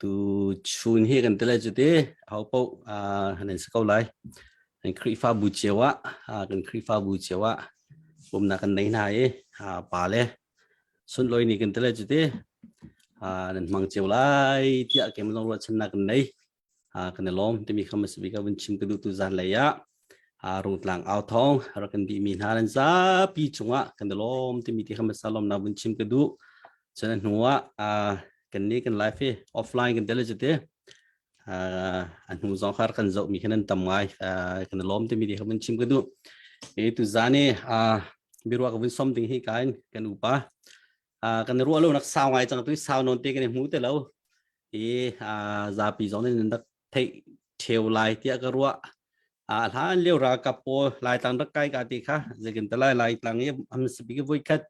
Tuchun hi kan ti lai cu ti ho paoh han an si ko lai. Kan Khrihfabu cio ah kan Khrihfabu cio ah bawmnak kan nei hna i pa le sunlawi ni kan ti lai cu ti nan hmang cio lai tiah keimah lawng ruahchannak kan nei. kan i lawm timi kham asi bik vun chim ka duh tu zan lei ah rungtlang au thong rak kan bi mi hna nan zapi chungah kan i lawm timi ti kham asa lawm na vun chim ka duh cun hnu ah kan ni kan live hi offline kan tele jate a hnu zong khar kan zo mi khanan tam ngai kan i lawm timi ti kham chim ka duh e tu zani biruak vun som ding hi kain kan upa uh, kan ruah lo nak sau ngai chang tu sau non te kan hmu te lo i uh, zapi zong ne dak thei theu lai tia ka ruah a hlan leo ra ka po lai tang dak kai ka ti kha zekin ta lai lai tang ye am speak voi khat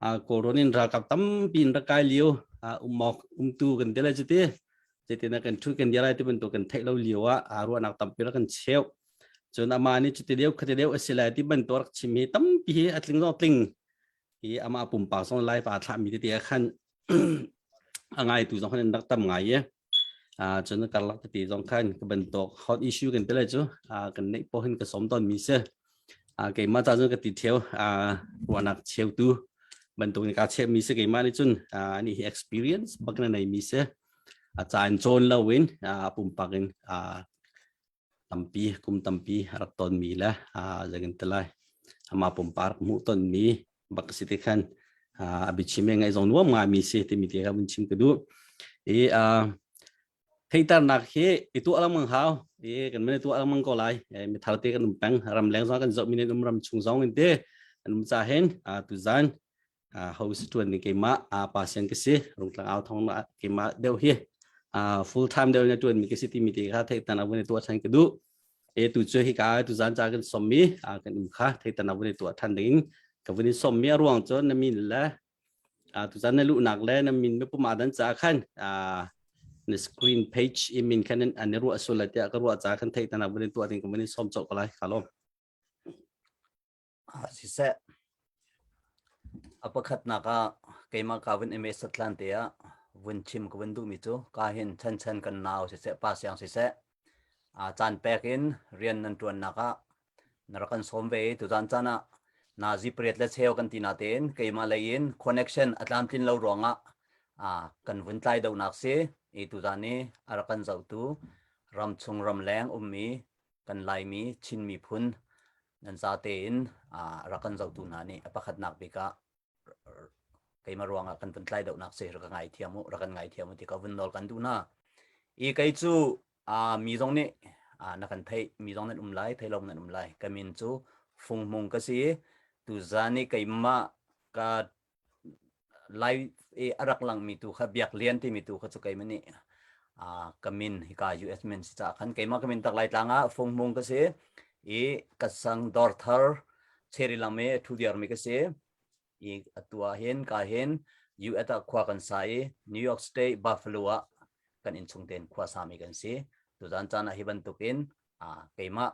a coronin ra ka tam pin ra kai liu umok umtu kan te la chuti na kan thu kan yalai ti bantu kan thei lo liwa a ruwa nak tampira kan cheu chun ama ni chuti leu khati leu asilai ti bantor chimi tampi hi atling zong tling i amah pumpak zong live aa thlahmi tete ah khan a ngaitu zong khan rak tam ngai i cun karlak tete zong khan ka bantuk hot issue kan tele cu kan neih po hin ka som ton mi se keimah ta cun ka ti theo ruanak cheu tu bantuk ni ka chep mi se keimah nih cun ani hi experience bak na nei mi se a caan cawn lo in pumpak in tampi kum tampi rak tonmi le zekin te lai ama pumpak hmuh tonmi bak si ti khan a bichim e ngai zong nuam ngami si timi ti ka mun chim ka du i theitarnak hi i tu alang mang hau i kan mene tu alang mang ko lai mi thar te kan um peng ram leng zong kan zo minen um ram chung zong in te an um cha hen tu zan host tuan ni keimah pa sian ka si rungtlang au thong na keimah deu hi full time deu na tuan mi ka si ti mi te kha thei tan abun tua than ka du e tu chu hi ka tu zan cha kan som mi kan um kha thei tan abun tua than ding ka vun som mi ruang cho na min la tu zan na lu nak le na min me puma dan cha khan na screen page imin khan an ru asul la tia ka ru cha khan thei tan abun tua ding ka mun som cho ka lai khalom ah siseh a pakhatnak ah keimah ka vun ime satlan te ah vun chim ka vun duhmi cu ka hin chan chan kan nau siseh pa siang siseh a caan pek in rian nan tuannak ah na rak kan sawm ve i tuzan caan ah na zipriat le cheu kan ti na tein keimah lei in connection a tlam tlin lo ruangah a kan vun tlai donak si i tuzan i a rak kan zohtu ram chung ram leng ummi kan laimi chinmi phun nan za tein rak kan zohtu hna nih a pakhatnak bik ah keimah ruangah kan vun tlai dohnak si rak ka ngaithiam u rak kan ngaithiam u ti ka vun nawl kan duh hna i kei cu mi zong nih na kan theih mi zong nan um lai thei lo nan um lai ka min cu fung hmung ka si i tuzan i keimah ka lai i a rak langmi tu kha biak lian timi tu kha cu keimah nih ka min hika US min si caah khan keimah ka min tak lai tlang ah fung mung ka si i ka sang dor thar cheri langme thu diarmi ka si i atua hin ka hin US ah khua kan sa i New York State Buffalo ah kan in chung ten khua sami kan si tu zan caan ah hi bantuk in keimah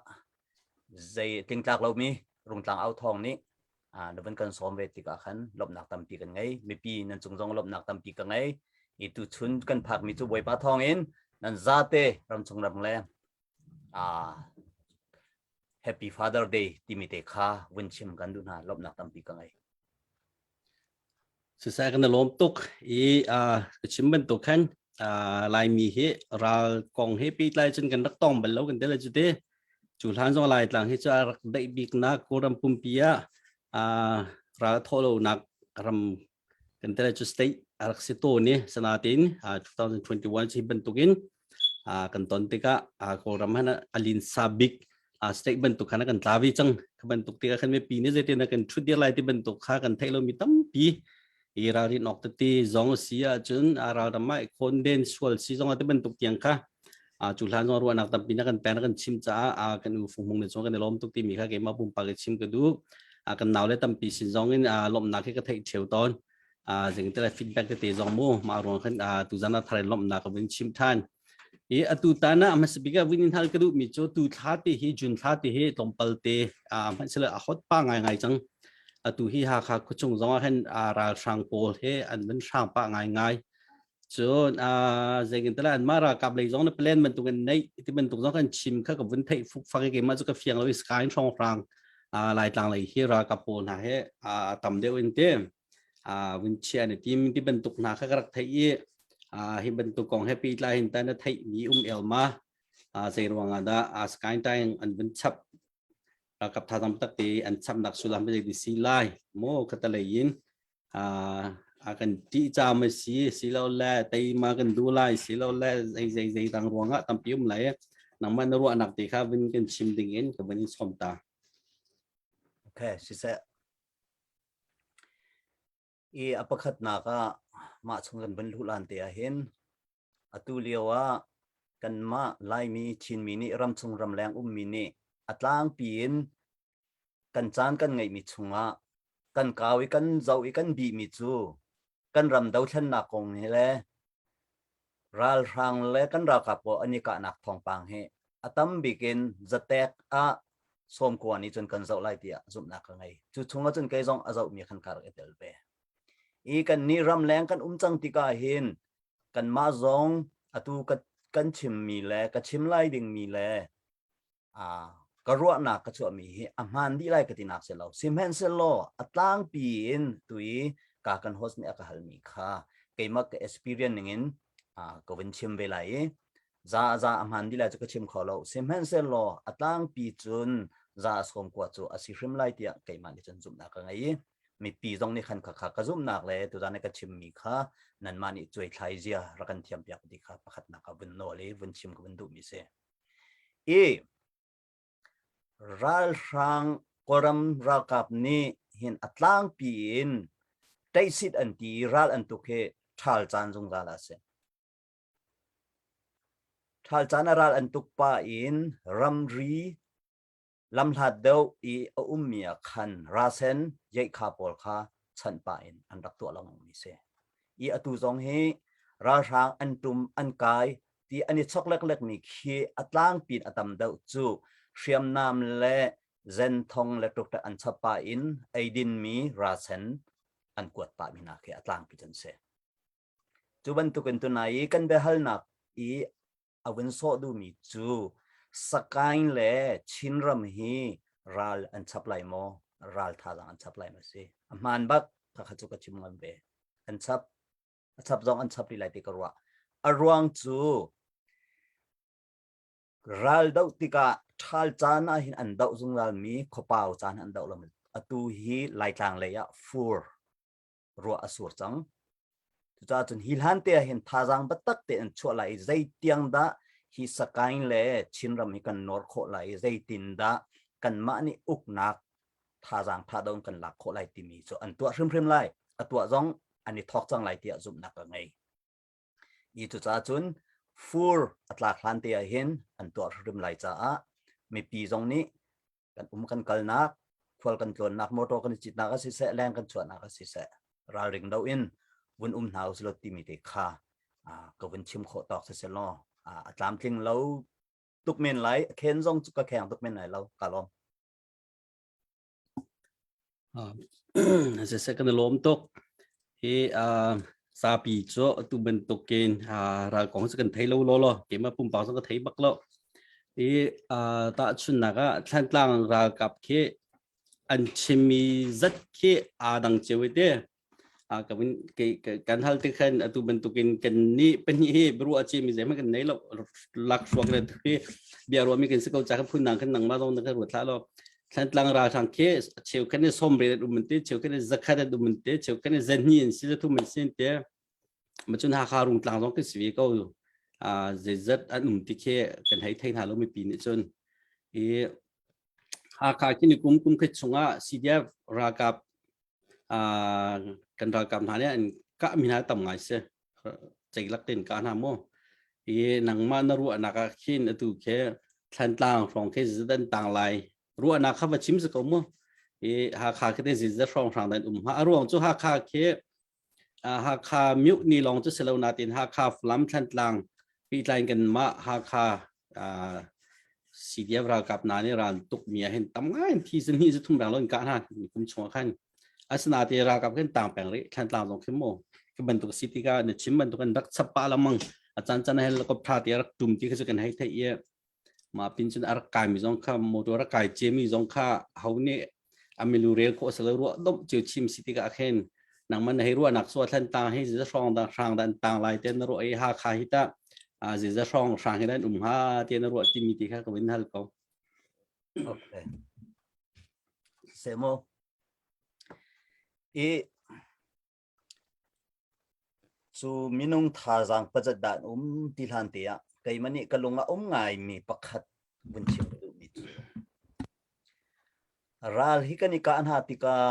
zei tlingtlak lomi rungtlang au thong nih na van kan sawm ve tikah khan lawmhnak tampi kan ngei mipi nan cung zong lawmhnak tampi ka ngei i tu chun kan phakmi cu bawipa thawng in nan zate ramchung ram le happy father day timi te kha vun chim kan duh hna lawmhnak tampi ka ngei Sisai kan i lawm tuk i uh, ka chim bantuk khan uh, Laimi hi ral kong he peitlai cun kan rak tong bal lo kan tel cu te cu hlan zong lai tlang hi cu a rak daih biknak kuram pumpi ah uh, ral thawh lonak ram kan tel cu state a rak si tawn i sanatin uh, 2021 cu hi bantukin kan ton tikah kawlram han alinsa bik state bantuk khan kan tla vi cang bantuk tikah khan mipi nih zeitin kan thut dir lai ti bantuk kha kan theih lo mi tampi i ralrin awk tete zong si ahcun ralram ah khonden sual si zong te bantuk tiang kha cu hlan zong ruahnak tampi na kan peng na kan chim caah kan u fung ne chung kan lom tuk ti mi kha keimah pumpa ke chim ka du kan nau le tampi sin zong in lomnak hi ka theih theo ton a zing te feedback te zong mu ma ruang khan a tu zan thar lom na ka vin chim than i atu ta na masbika vin hal ka du mi chu tu thla te hi jun thla te hi tlom pal te a man sel a hot pa ngai ngai chang atu hi ha kha khuchung zong a hen a ral sang pawl he an van sang pa ngai ngai chun a zengin tala an mara kap lei zong na plan man tung an nei ti man tung zong kan chim kha ka vun thei fuk fang ke ma chu ka fiang lo sky strong rang a lai tlang lei hi ra ka pol na he a tam deuh in te vunchia na tim ti bantuk hna kha ka rak theih i hi bantuk kong he pihla hin ta na theih mi um elma zei ruangah dah sky time an vun chap ralkap tha tam tak te an chap nak sulam pe di si lai mo kata lei in a kan ti cha ma si si lo le tei ma kan du lai si lo le zai zai zai tang ruangah tam pium lai nang man ruwa nak te kha vin kan chim ding in ka vin in som ta okay she said I a pakhatnak ah mah chung kan van luhlan te ah hin atu lio ah kanmah Laimi Chinmi nih ramchung ramleng ummi nih a tlangpi in kan caan kan ngeihmi chungah kan kau i kan zoh i kan bihmi cu kan ram dothlennak kong hi le ralhrang le kan ralkap pawl an i kahnak thawngpang hi a tam bik in zatek ah sawmkua nih cun kan zoh lai tiah zumhnak ka ngei cu chung ahcun kei zong a zoh mi khan kar i tel ve i kan nih ram leng kan um cang tikah hin kan mah zong atu ka kan chim mi le ka chim lai ding mi le ka ruahnak ka chuahmi hi a hmaan dih lai ka tinak si lo sihmanhsehlaw a tlangpi in tui ka kan host nih a ka halmi kha keimah ka experience ningin ka vin chim ve lai i za za a hmaan dih lai cu ka chim kho lo sihmanhsehlaw a tlangpi cun za sawm kua cu a si hrim lai tiah keimah nih cun zumhnak ka ngei i mipi zong nih khan kha kha ka zumhnak le tuzan ka chimmi kha nanmah nih cuai thlai zia rak kan thiampiak ti kha pakhatnak ka vun nawl i vun chim ka vun duhmi si I ralhrang Kawlram ralkap nih hin a tlangpi in taisit an ti ral an tuk hi ṭhal caan zungzal a si. Ṭhal caan a ral an tuk pa in ramri lam hlat deuh i a ummi ah khan rasen yeikha pawl kha chanh pah in an rak tuah lengmangmi si. I atu zong hi ralhrang an tum an kai ti an i chok leklekmi khi a tlangpi in a tam deuh cu hriamnam le zenthong le tuktak an chap pa in eidinmi rasen an kuat pa mi nak hi a tlangpi chan si. Cu bantukin tunai i kan biahalnak i a vun sawh duhmi cu Sakain le Chinram hi ral an chap lai maw ral thazaang an chap lai maw si a hmaan bak kakha cu ka chim ngam ve an chap a chap zong an chap rih lai ti ka ruah a ruang cu ral doh tikah ṭhal caan ah hin an doh zungzalmi khuapau caan an doh lo atu hi laitlang lei ah fur ruah a sur cang cucaah cun hi hlan te ah hin thazaang batak te an chuah lai i zei tiang dah hi sakain le chinram hi kan nor khawh lai i zeitin dah kanmah nih uknak thazaang tha dong kan lak khawh lai timi cu an tuah hrimhrim lai a tuah zong an i thawk cang lai tiah zumhnak ka ngei Hi cucaah cun fur a tlak hlan te ah hin an tuah hrim lai caah mipi zong nih kan um kan kalnak khual kan tlawnnak motor kan i citnak a siseh leng kan chuahnak a siseh ralring lo in vun um hna usih law timi te kha ka vun chim khawh tawk siseh law a tlamtling lo tuk men lai a khen zong cu ka kheng tuk men lai lo ka lawm Siseh kan i lawm tuk. Hi zapi cu atu bantukin ral kong cu kan thei lo lo lo. Keimah pumpak zong ka thei bak lo. Hi tahchunhnak ah Thlantlang ralkap khi an chimmi zat khi aa dang cio i ti. a kan kan hal te khan atu bantuk in kan ni pahnih hi bru a chi mi zeima kan nei lo lak suak re tu hi bia ruwa mi kan si ko cha phun nang kan nang ma dong kan ruwa tha lo thlan tlang ra thang ke cheu kan som re um te cheu kan zakhat um te cheu kan zan ni in si thu man sin te macun hakha rungtlang zong kan sivi ko uh, zeizat an um ti khi kan hei thei hna lo mipi nih cun i hakha kini kum kum khat chungah CDF ralkap uh, kan ralkap hna nih an kah mi hna tam ngai se cei lak tin ka hna mo i nangma na ru anak a khin atu khe thantlang phong khe zidan tang lai ru anak kha va chim se ko mo i hakha khe te zizat phong sang dan um ha aruang chu hakha khe Hakha Myuk ni lawng cu si lo nain Hakha Falam Thlantlang pehtlai kan mah Hakha CDF ralkap hna nih ran tukmi ah hin tam ngai thi sin hi thum rang lon ka hna kum chung khan asinate ralkap kan tang peng ri Thlantlang zong khim mo ke bantuk city ka na chim bantuk kan rak chappa lamang achan chan helicopter te rak tum ti kha kan hai thai ye ma pin cun ar kai mi zong kha motor a kai che mi zong kha ho ne amilu rel ko sa lo ru dom cheu chim city ka khen nang man hei ruwa nak so thlan ta hi ze hrang da hrang dan tang lai ten ru ei ha kha hi ta a ze za hrang hrang hi dan um ha ten ru ti mi ti kha ko in hal ko okay semo e Cu minung thazaang pazat dah an um ti hlan te ah keimah nih ka lung a um ngaimi pakhat vun chim ka duhmi cu. Ral hi kan i kah hna tikah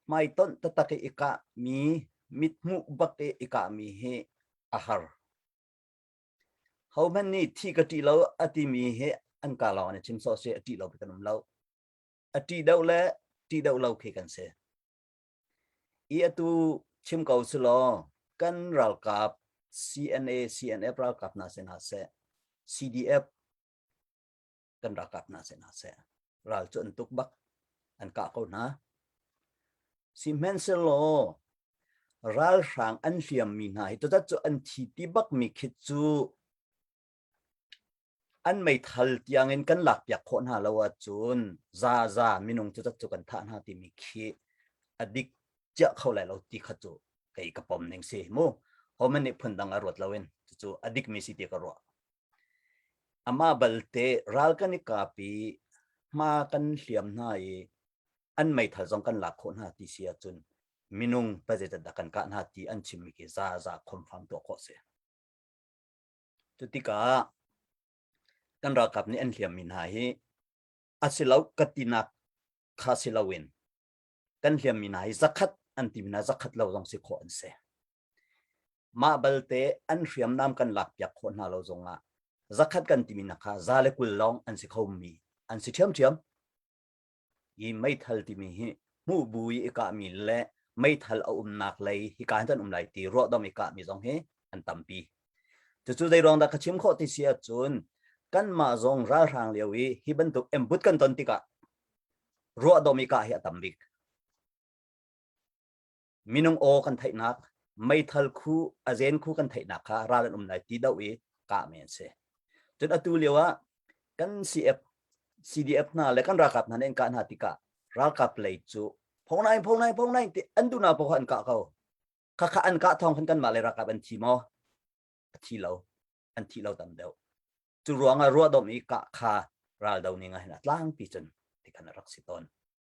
hmaitonh tatak i i kahmi mithmuh bak i i kahmi hi a har. Hohmanh nih thi ka ṭih lo a timi hi an ka lawng in a chim sawh seh a ṭih lo khi kan um lo. A ṭih deuh le ṭih deuh lo khi kan si. i atu chim ko su law kan ralkap CNA CNF ralkap hna sin hlah seh CDF kan ralkap hna sin hlah seh ral cu an tuk bak an kah ko hna sihmanhsehlaw ralhrang an hliam mi hna hi tutat cu an thi ti bak mi khit cu an meithal tiangin kan lakpiak khawh hna lo ahcun zaza minung cu cu kan thah hna timi khi a dik ciah kho lai lo ti kha cu kei ka pom ning si mu homan nih phun dang a ruat loin cucu a dikmi si ti ka ruah ama balte ral kan i kapi hma kan hliam hna i an meithal zong kan lak khawh hna ti si ahcun minung pa zeitat dah kan kah hna ti an chimmi khi za za khom fam tuah khawh si Cutikah kan ralkap nih an hliammi hna hi a si lo ka tinak kha si loin kan hliammi hna hi zakhat an timi hna zakhat lo zong si khawh an si. Mah balte an hriamnam kan lakpiak khawh hna lo zongah zakhat kan timi hna kha za le kul lawng an si khomi an si ṭhiamṭhiam. hi meithal timi hi hmuh bu i i kahmi le meithal a umnak lei hika hin kan um lai ti ruahdong i kahmi zong hi an tampi cucu zeiruang dah ka chim khawh ti si ahcun kanmah zong ralhrang lio i hi bantuk embut kan ton tikah ruahdom i kah hi a tam bik minung aw kan theihnak meithal khu azen khu kan theihnak kha ral an um lai ti do i kah mi an si cun atu lio ah kan CF CDF hna le kan ralkap hna nih an kah hna tikah ralkap lei cu phongnai phongnai phongnai ti an tu na pa an kah ko khakha an kah thong khan kan mah le ralkap an thi mo thi lo an thi lo tam deuh cu ruang ah ruah dom i kah kha ral do ning a hin a tlang pi cun ti khan a rak si tawn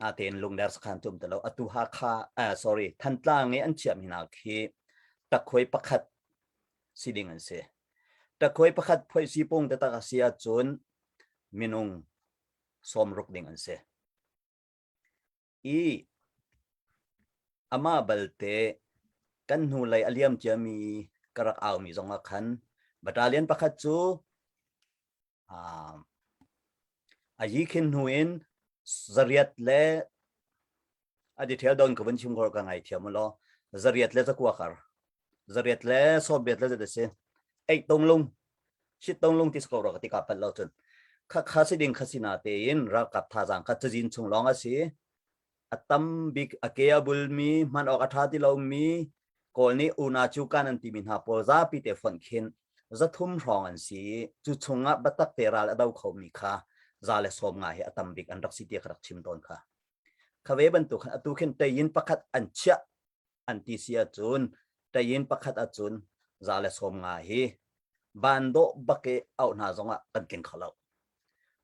natein lungder sakhan tum talo atu hakha uh, sorry thantlang i an chiam hina khi takkhoi pakhat si ding an si takkhoi pakhat phoi si pung te tak asi achun minung som ruk ding an si i ama balte kan hnu lei aliam cia mi karak au mi zong a khan battalion pakhat chu a yi khin hnu in zariat le a detail don ko van chim gor ka ngai thiam lo zariat le zakwa kar zariat le soviet le zate si ek tong lung shit tong lung tis ko ro ka tika pal lo chun kha kha si ding kha si na te in ral kap tha jang ka chajin chung long asi a tam bik a ke a bulmi hman awk a ṭha ti lomi kawl nih una cu kan an timi hna pawl zapi te fonh khin zathum hrawng an si i cu chungah batak te ral a do khomi kha za le sawm nga hi a tam bik an rak si tiah ka rak chim tawn kha kha ve bantuk khan atu khin tei in pakhat an chiah an ti si ahcun tayin pakhat ahcun za le sawm nga hi van dawh bak i auh hna zongah kan keng kho lo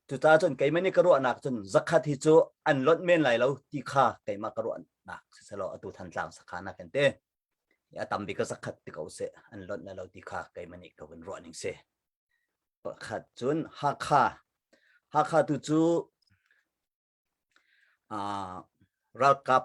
cucaah cun keimah nih ka ruahnak cun zakhat hi cu an lonh men lai lo ti kha keimah ka ruahnak siselo atu thantlang sakha na kan te a tam bik ka zakhat ti ko se an lonh na lo ti kha keimah nih ka hun ruah ning se pakhat cun hakha hakha tu cu ralkap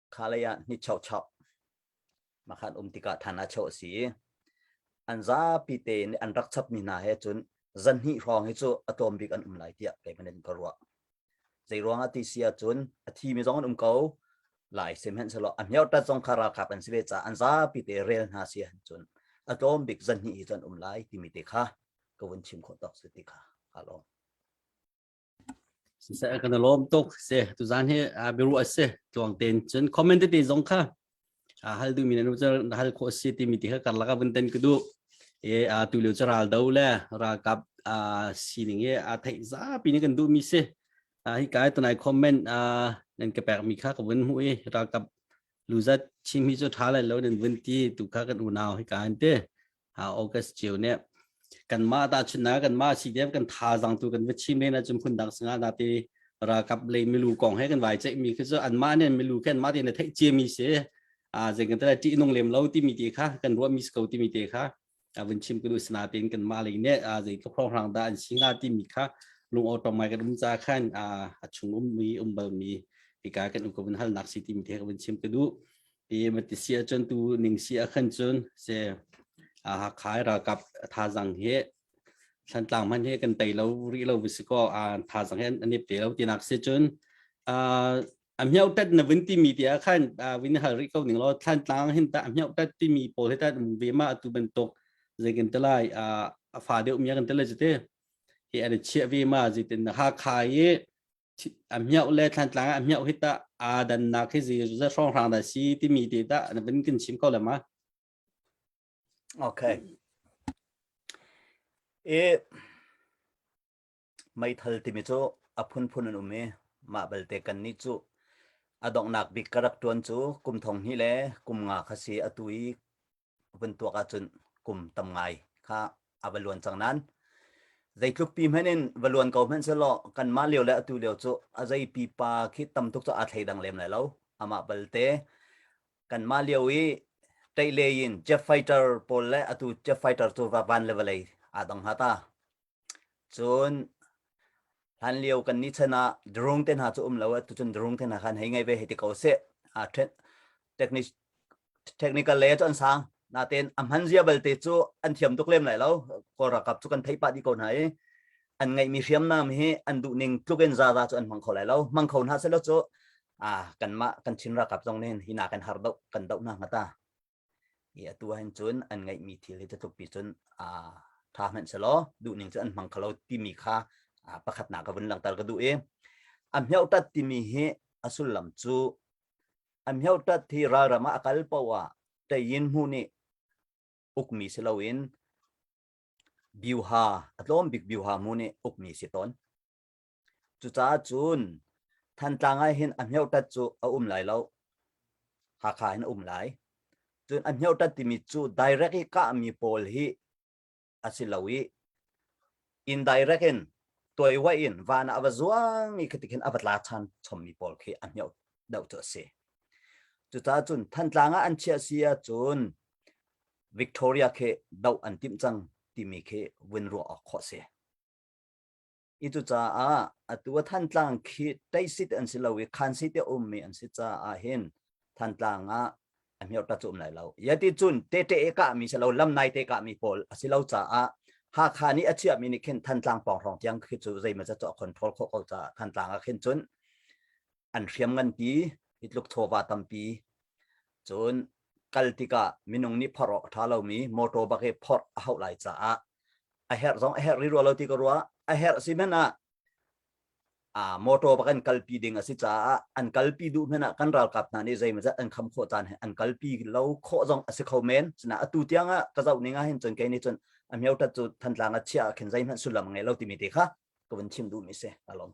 kha lei ah ni chochoh makhat um tikah than a cho si an zapi te in an rak chap mi hna he cun zan hnih hrawng hi cu atom bik an um lai tiah kei manin ka ruah zei ruang ati sia cun a thi mi zong an um ko lai sem hen selo a hmiau tat zong kha ralkap an si ve ca an zapi te rel hna si han cun atom bik zan hnih hi cun um lai timi te kha ka vun chim khawh tok si ti kha ka lawm siseh kan lom tuk se tu zan hi biru ase tluang ten chun comment te zong kha hal du mi nu cha hal kho si ti mi ti kha kar laka bun ten ku du e tu leu cha ral do le ra kap sining ye a thei za pi ni kan du mi se hi kai to nai comment nen ke pek mi kha ka bun hu e ra kap lu zat chim hi cho tha lai lo nen bun ti tu kha kan unau hi kan te August cio ne kanmah ta chuna kanmah CDF kan tha zang tu kan vichi men achum khun dak singa da te rakap le milu kong he kan vai chek mi khi zo anmah ne milu khen ma te ne thei chia mi se a jeng kan tara ti nong lem lo ti mi te kha kan ruwa mi sko ti mi te kha avun chim kunu sna ten kan ma le ne a jei to khong rang da an singa ti mi kha lung auto mai kan um cha khan a achung um mi umbal mi ika kan ukum hal nak si ti mi te kan chim kanu i matisi cun tu ning si a khan cun se a ha khai ra kap tha zang he thlan tlang man he kan tei lo ri lo si ko a tha zang he an ip te lo tinak se cun a amheu tat na vin ti mi ti a khan vin hal ri ko ning lo thlan tlang hin ta amheu tat ti mi pawl he ta ve ma atu ban tok zai kan telai a fa deu mi kan telai jite hi an chia ve ma ji tin ha khai a miau le thlan tlang a miau hi ta a dan na khi zi za song hrang da si ti mi ti ta na bin kin chim ko le ma okay e meithal ti mi chu a phun phun an um e ma balte kan ni chu adong nak bik karak tuan chu kum thong hi le kum nga khasi atu i a vun tuak ahcun kum tam ngai kha a va luan cang nan zeitluk pi hmanh in va luan ko hmanh selaw kan mah lio le atu lio cu a zei pipa khi tam tuk cu a thei dang lem lai lo amah balte kan mah lio i tei le yin jet fighter pawl le atu jet fighter cu van le vawlei aa dang ha ta Cun hlanlio kan ni chan ah drone te hna cu um lo, tucun drone te hna khan hei ngei ve hei ti ko seh. Ah technical lei cu an sang. Natein a hman zia balte cu an thiam tuk lem lai lo. Kawl ralkap cu kan theih pah dih ko hna i an ngeihmi hriamnam hi an duh ning tluk in zaza cu an hmang kho lai lo. Hmang kho hna selaw cu kanmah kan Chin ralkap zong nih hi na kan har doh, kan doh hna hnga ta. i atu ahhin cun an ngeihmi thil hi tutlupi cun aa ṭha hmanhselaw duhning cu an hmang kho lo timi kha pakhatnak ka vun langhter ka duh i a mheutat timi hi a sullam cu a mheutat hi ralram ah a kal poh ah ṭeyin hmu nih ukmi si loin biuha a tlawm bik biuha mu nih ukmi si tawn Cucaah cun Thantlang ah hin a hmeuhtat cu a um lai lo. Hakha hin a um lai. Cun a hmeuhtat timi cu direct i kahmi pawl hi a si lo i indirect in tuaiwa in van ah a va zuang i khitik hin a va tla chan chommi pawl khi a hmeuh deuh cu a si. Cucaah cun Thantlang ah an chiah si ahcun Victoria khi doh an timh cang timi khi vun ruah awk khawh si. i tu caah atu a thantlang khi teisit an si lo i khan si te ummi an si caah hin thantlang ah a hmior ta cum lai lo yati cun te te e ka mi si lo lam nai te ka mi pawl a si lo caah Hakha nih a chiahmi nih khin Thantlang pawng tiang khi cu zeimaw ca cu control kho ko caah Thantlang ah khin cun an hriam ngan ti hitluk chawva tampi cun kal tikah minung nih phar awk a ṭha lomi motor bak i phorh a hauh lai caah a herh zong a herh rih rua lo ti ka ruah a herh a si hmanh ah a motor bak an kalpi ding a si caah an kalpi duh hmanh ah kan ralkap hna nih zeimazat an kham khawh caan he an kalpi lo khawh zong a si kho men sina atu tiang ah ka zoh ning ah hin cun kei nih cun a miotat cu thantlang a chia ah khin zeihmanh sullam ngei lo timi ti kha ka vun chim duhmi si alom.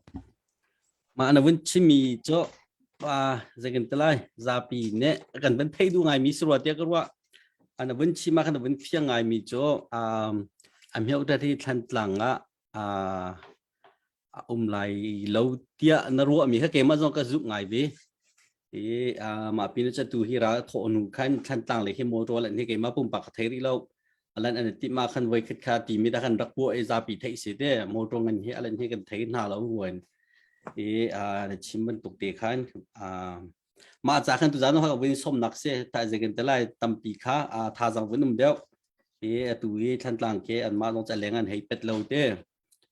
Mah na vun chimmi cu pa zekan te lai zapi ne kan van thei du ngai mi si rua tia ka rua ana vun chima kan vun phiang ngai mi cu um amheu da thi thlan tlang a a um lai lo tia na ruah mi ha ke ma zong ka zup ngai vi i a mah pin cha tu hi ra tho nu khan thantlang le hi mo to lan hi ke ma pum pa thei ri lo alan an ti ma khan voi khat kha ti mi da kan rak po e za pi thei se te mo to ngan hi alan hi kan thei na lo nguen i a chim ban tuk te khan a ma cha khan tu zan ho vin som nak se ta je gen telai tampi kha a tha jang vunum deu i tu hi thantlang ke an ma long cha lengan hei pet lo te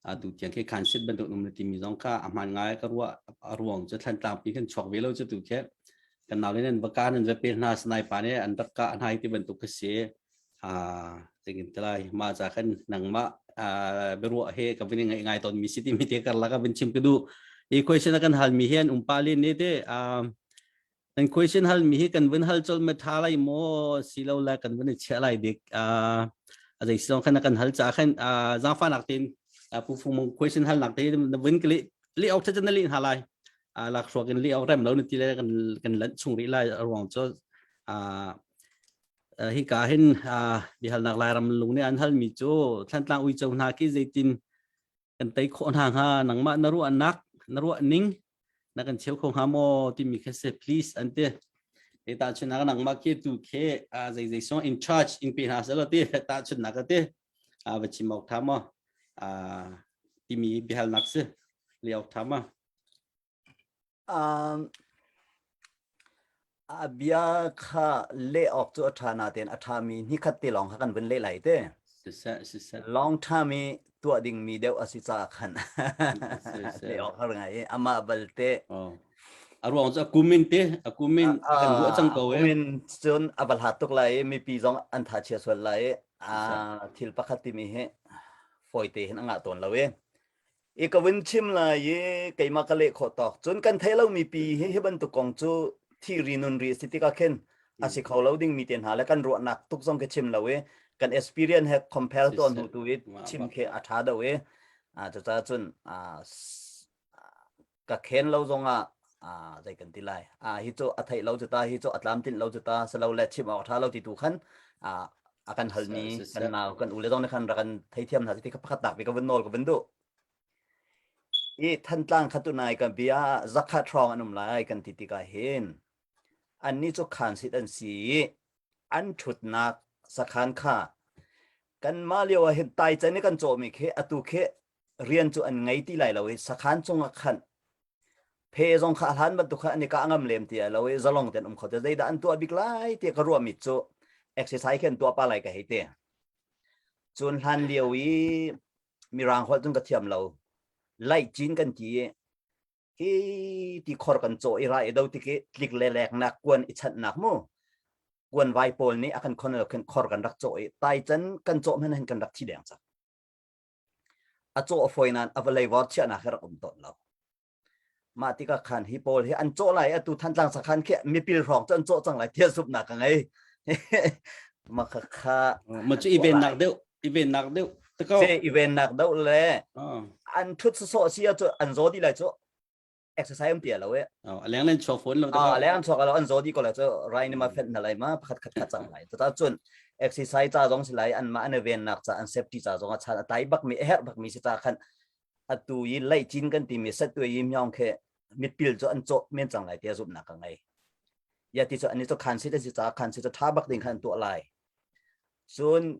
atu tiang khi khan sit bantuk num le timi zong kha a hman ngai ka ruah a ruang cu thlan tlang pi kan chuak ve lo cu tu khe kan nau le nan baka nan va pe hna sanai pa ne an dakka anai ti bantuk ka si a tengin telai ma cha kan nangma beruwa he ka vini ngai ngai ton mi si ti mi te kar la ka vin chim ka du i question kan hal mi hen umpa lin ni te An question hal mi hi kan vun hal col ma tha lai maw si lo la kan vun i chia lai dik a a dei song khan kan hal cha khan a za fa nak tin a pu fu mong question hal nak ti na vun kli li ok tha na li ha lai a lak shwa kin li ok rem lo ni ti le kan kan lan chung ri lai ruang cho a hi ka hin a bi hal nak lai ram lung ni an hal mi chu thlan tlang ui chong hna ki zeitin kan tei khawh hna hnga nangmah na ruahnak na ruahning na kan cheu kho hnga maw timi kha se please an ti e ta chun nak nangmah ke tu khe a zai zai so in charge in pe hna selo ti ta chun nak ti a va chim ok tha ma a timi bihal nak se le ok tha ma A bia kha leh awk cu a ṭha natein a ṭhami ni khat te lawng kha kan vun leh lai te. Siseh, siseh. Long term i tuah dingmi deuh a si caah khan leh awk har ngai i amah balte A ruang cu a kumin te, a kumin a kan ruah cang ko ee. kumin cun a va hlat tuk lai i mipi zong an thachia sual lai i a thil pakhat timi hi fawite hin a ngah tawn lo i i ka vun chim lai i keimah ka leh khawh tawk cun kan thei lomi pi hi hi bantuk kong cu thi ri nun ri a si tikah khin a si kho lo dingmi te hna le kan ruahnak tuk zong ka chim lo i kan experience he compare tuan hnu tu i chim khi a tha do i a cucaah cun ka khen lo zongah ah zei kan ti lai ah hi cu a theih lo cu ta hi cu a tlam tinh lo cu ta selo le chim awk tha lo ti tu khan ah a kan hal mi kan nau kan u le zong ne khan ra kan thei thiam hna ti ka pakhat tak bi ka vun nol ka vun du i thantlang kha tu nai kan bia zakhat hrong an um lai kan ti tika hin an ni chu khan sit an si an thutnak sakhan kha kan ma lio ah hin tai chen i kan chaw mi khi atu khi rian cu an ngei ti lai lo i sakhan cung ah khan phe zong kha hlan bantuk kha an i kah ngam lem ti lo i zalong ten um kho te zeidah an tuah bik lai ti ka ruah mi cu exercise khen tuah pa lai ka hei te cun hlan lio i mirang holh cun ka thiam lo laih cin kan ti hi ti khor kan chaw i ra i do tik i tlik le lek nak kuan i chat nak mu kuan vai pawl nih a kan khon lo khen khor kan rak chaw i tai can kan chaw men hen kan rak thi deng chak A caw a fawi nain a va leivar chiahnak hi rak um tawn lo. Mah tikah khan hi pawl hi an cawh lai atu Thantlang sakhan khi mipil hrawng cu an cawh cang lai thia sup nak ka ngei. Maka kha ma cu iven nak deuh iven nak deuh te ko se iven nak deuh le an thut sosawh si cu an zo di lai cu exercise um pia lo e a leng len chok phone lo a leng chok lo an zo di ko la chu rai ni ma phet na lai ma pakhat khat khat chang lai ta chun exercise cha zong si lai an ma an ven nak cha an safety cha zong a chan a tai bak mi her bak mi si cha khan atu yi lai chin kan ti mi set tu yi myong khe mitpil cho an cho men chang lai tia zup na ka ngai ya ti cho ani cho khan si ta si cha khan si cho tha bak ding khan tu lai sun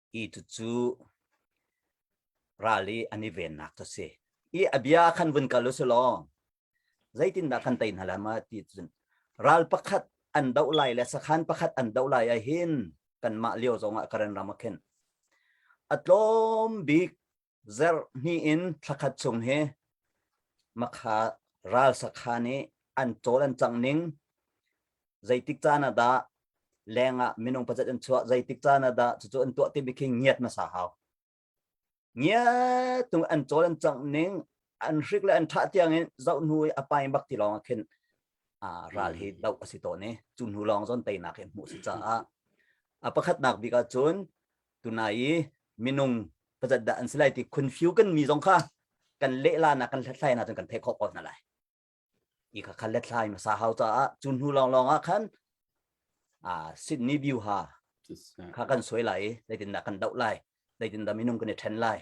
i tucu ral i an i vennak cu si i abia khan vun kal u sulaw zeitindah kan tei hna la ma ti cun ral pakhat an doh lai le sakhan pakhat an doh lai ah hin kanmah lio zongah karen ram a khen a tlawm bik Zer hnih in thlakhat chung hi makha ral sakha nih an cawl an cang ning zeitik caan ah dah leng ah minung pazet an chuah zeitik caan ah dah cucu an tuah timi khi ngiat hmasa hau ngiat tung an cawl an cang ning an hrik le an thah tiang in zoh hnu i a pai bak ti lawng ah khin ral hi doh a si tawn i cu hnu lawng zon teinak hi hmuh si caah a pakhatnak bik ah cun tunai i minung pazat dah an si lai ti khunfiu kan mi zong kha kan lehla na kan hlathlai na cun kan theih khawh ko hna lai i kha kha hlathlai ma sa hau caah cu hnu lawng lawng ah khan a Sydney View ha kha kan soi lai zeitin da kan doh lai zeitin da minung kan i ṭhen lai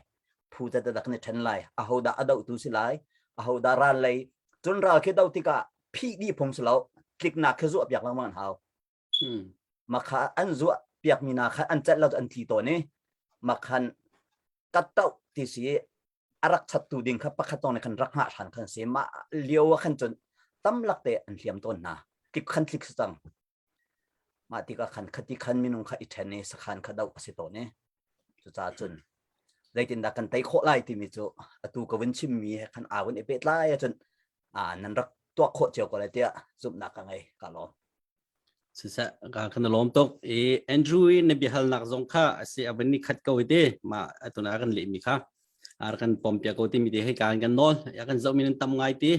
phu ta da kan i ṭhen lai a ho da a doh tu si lai a ho da ral lei cun ral khi do tikah phi di phung si lo tliknak khi zuah piak lengmang hau makha an zuah piakmi na khan an celh lo an thi tawn i makhan katto ti si a rak chattu ding kha pakhat tawng ne khan rak ngah hran khan si ma lio a khan cun tam lak te an hliam tawn na kip khan thlik su cang ma ti ka khan khati khan minung kha i ṭhen i sakhan kha do a si tawn i Cucaah cun zeitindah kan tei khawh lai timi cu atu ka vun chimmi he khan aa vun i pehtlai ahcun nan rak tuah khawh cio ko lai tiah zumhnak ka ngei ka lawm. Siseh, kan lawm tuk i Andrew i na biahalnak zong kha asi abin ni khat ko ite ma atuna kan lehmi kha ar kan pom pia ko ti mi te hei ka kan nawl ya kan zoh mi nan tam ngai ti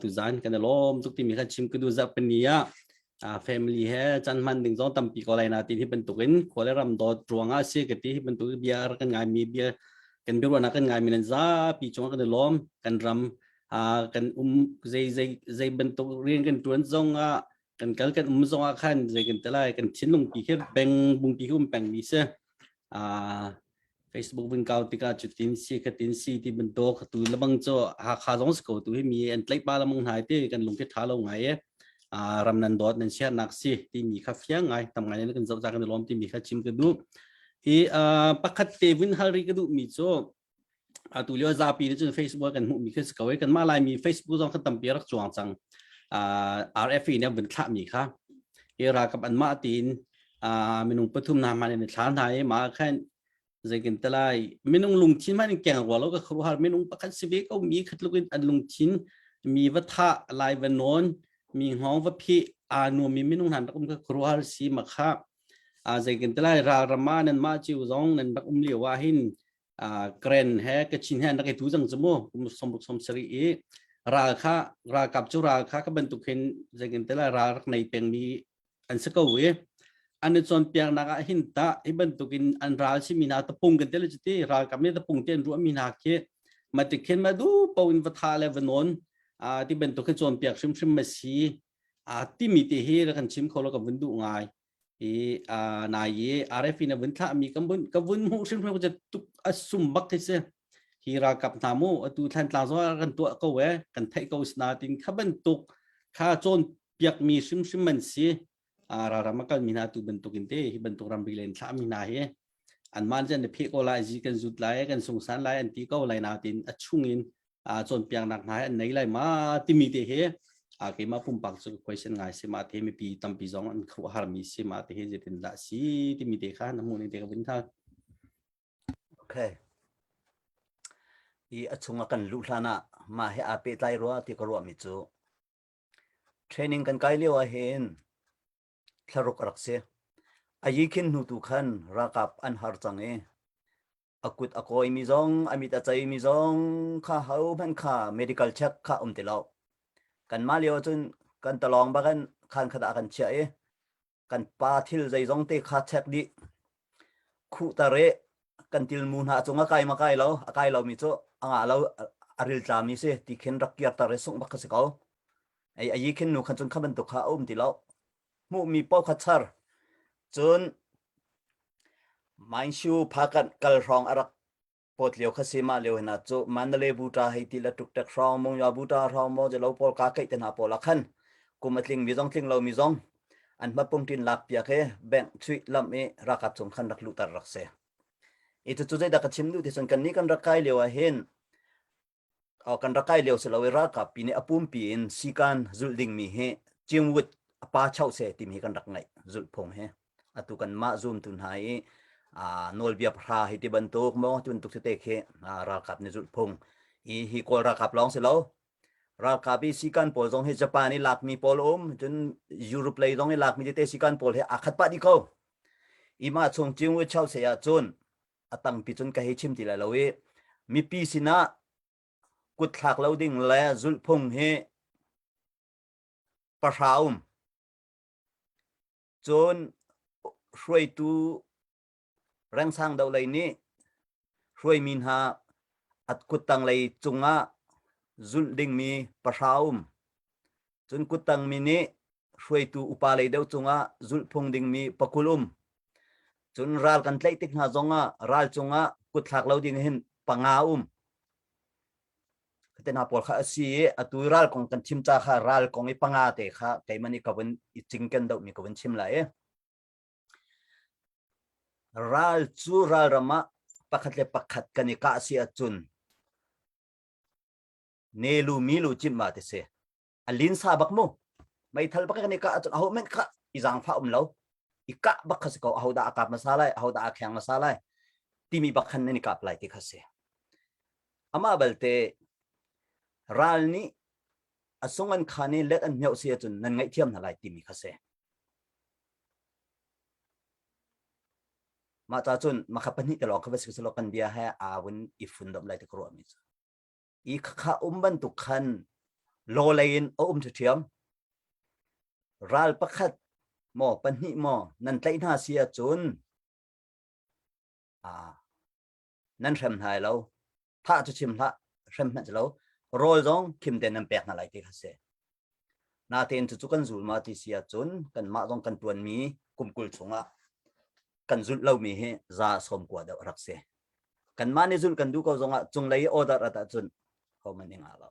tuzan kan lawm tuk timi kha chim kunu zak pani a family he chan man ding zong tampi ko lai na ti hi bantuk in khole ram dot ruanga si ka ti hi bantuk bia kan ngai mi bia kan biruana kan ngai mi nan za pi chung kan lawm kan ram kan um zai zai zai bantuk rian kan tuan zong a kan kal kan um zong a khan zai kan talai kan thin lung pi he beng bung pi hum peng mi se a Facebook vun kau tikah cu tin si ka tin si ti bantuk tu lamang cho hakha zong sko tu hi mi an tlai pa lamang ngai te kan lung ke tha lo ngai e ram nan dot nan sia nak si ti mi kha fiang ngai tam ngai ne kan zo kan lom ti mi kha chim ka du i pakhat te vun hal ri ka du mi cho atu lio zapi nih cun Facebook kan hmuhmi khi si ko i kanmah laimi Facebook zong kan tampi rak cuang cang RFE nih vun thlahmi kha i ralkap anmah tiin minung pathum hna hman in thla hna i mah khan zeikin talai minung lungthin hman in keng rua lo ka khru har minung pakhat si ve ko mi khatluk in an lungthin mi va tha lai va non mi ngong va phi anu mi minung han rakum ka khru har si ma kha a zeikin talai ra rama nan ma chiu zong nan bak um liawa hin Karen he Kachin he an rak i tu cang cu mu kum sawmruk sawm sarih i ral kha ralkap cu ral kha ka bantuk hin zeikin te lai ral rak nei pengmi an si ko i an i cawnpiaknak ah hin tah hi bantuk in an ral si mi hna tapung kan te le cuti ralkap nih tapung te an ruah mi hna khi matik khin ma du po in va tha le va non ti bantuk hi cawnpiak hrimhrim ma si a timi te hi ra kan chim kho lo ka vun duh ngai i uh, nai i RF in a vun thlah mi kan vun ka vun mu hrim hrim je tuk asum bak hi se hi ra kap na mu atu thlan tla zo kan tua ko e kan thai ko sna tin khaban tuk kha chon piak mi sim sim man si a ra rama kal mi na tu ban tukin te hi ban tuk ram bi len thla mi na hi an man jan ne phe ko lai ji kan zut lai kan sung san lai an ti ko lai na tin a chung in a cawnpiaknak hna hi an nei lai ma timi te hi a keimah pumpak cu question ngai si ma te mipi tampi zong an kho har mi si ma te hi zetin dah si timi te kha na hmuh ning te ka vin tha okay i a chung a kan luh hlan ah mah he aa pehtlai rua ti ka ruah mi cu training kan kai lio ah hin thlaruk a rak si. A yi khin hnu tu khan ralkap an har cang i a kut a kawimi zong a mit a ceimi zong kha hohmanh kha medical check kha um ti lo. Kanmah lio cun kan talawng bagan khan khat ah kan chiah i kan pa thil zeizong te kha check dih. Khu tare kan til mu hna cung a kai ma kai lo a kai lo mi cu anga lo a ril tlami si ti khin rak kiar tare sung bak ka si ko. ei ayi khin nu khan cun kha bantuk kha a um ti lo hmuhmi paw kha char cun mainshu phakan kal hrawng arak pot lio kha si ma leo hina chu mandale buta hei ti la tuk tek hrawng mong ya buta hrawng mo je lo pol ka kai te na pola khan kum atling mi zong tling lo mi zong an ma pung tin lak pia ke bank chui lam e rakat chung khan rak lu tar rak se itu chu zai da ka chim du ti sun kan ni kan rak kai leo a hin kan ra kai leo si lo i ralkap pi nih a pumpi in sikan zulh dingmi hi cingwut a pa chau se timi hi kan rak ngaih zulhphung hi atu kan mah zoomtu hna i nawlbia pahra hi ti bantuk maw tun tuk te khi ralkap nih zulhphung hi hi kawl ralkap lawng si lo ralkap i sikan pawl zong hi japan i lakmi pawl um cun europe lei zong i lakmi tete sikan pawl hi aa khat pah dih ko ima chung cingwut chau se ahcun a tampi cun ka hei chim ti lai lo i mipi sinah kutthlak lo ding le zulhphung hi pahra um cun hruaitu rengsang do lei nih hruaimi hna at kuttang lei cungah zulh dingmi pahra um cun kuttang mi nih hruaitu upalei deuh cungah zulhphung dingmi pakul um cun ral kan tlaih tik hna zongah ral cungah kutthlak lo ding hin panga um te hna pawl kha asi i atu ral kong kan chim ca kha ral kong i panga te kha keimani kawin i cingken doh mi kawin chim la i ral cu ral ram ah pakhat le pakhat kan i kah si ahcun ne lu mi lu chim ma te se a lin sa bak mu mai thal bak kan ka achun aho men kha i zang fa um lo i ka bak kha ko aho da akap ma sa lai aho da akhang ma sa lai timi bakhan ne ni kap lai ti kha se ama balte ral ni asungan khane let an meu se chun nan ngai thiam na lai timi kha se ma ta chun ma kha pani te lo ka bas ko kan bia ha awun i fundom lai te kro mi i khakha um bantuk khan lawlei in a um ṭhiam ral pakhat maw pahnih maw nan tlaih hna si ahcun a nan hrem hna lo thah cu chim hlah hrem hmanh lo rawl zong khim te nan pek hna lai ti kha si Natein cucu kan zulma ti si ahcun kanmah zong kan tuanmi kum kul chungah kan zulh lomi hi za sawm kua deuh rak si. Kanmah nih zulh kan duh ko zongah cunglei order rat ahcun hom an i nga lo.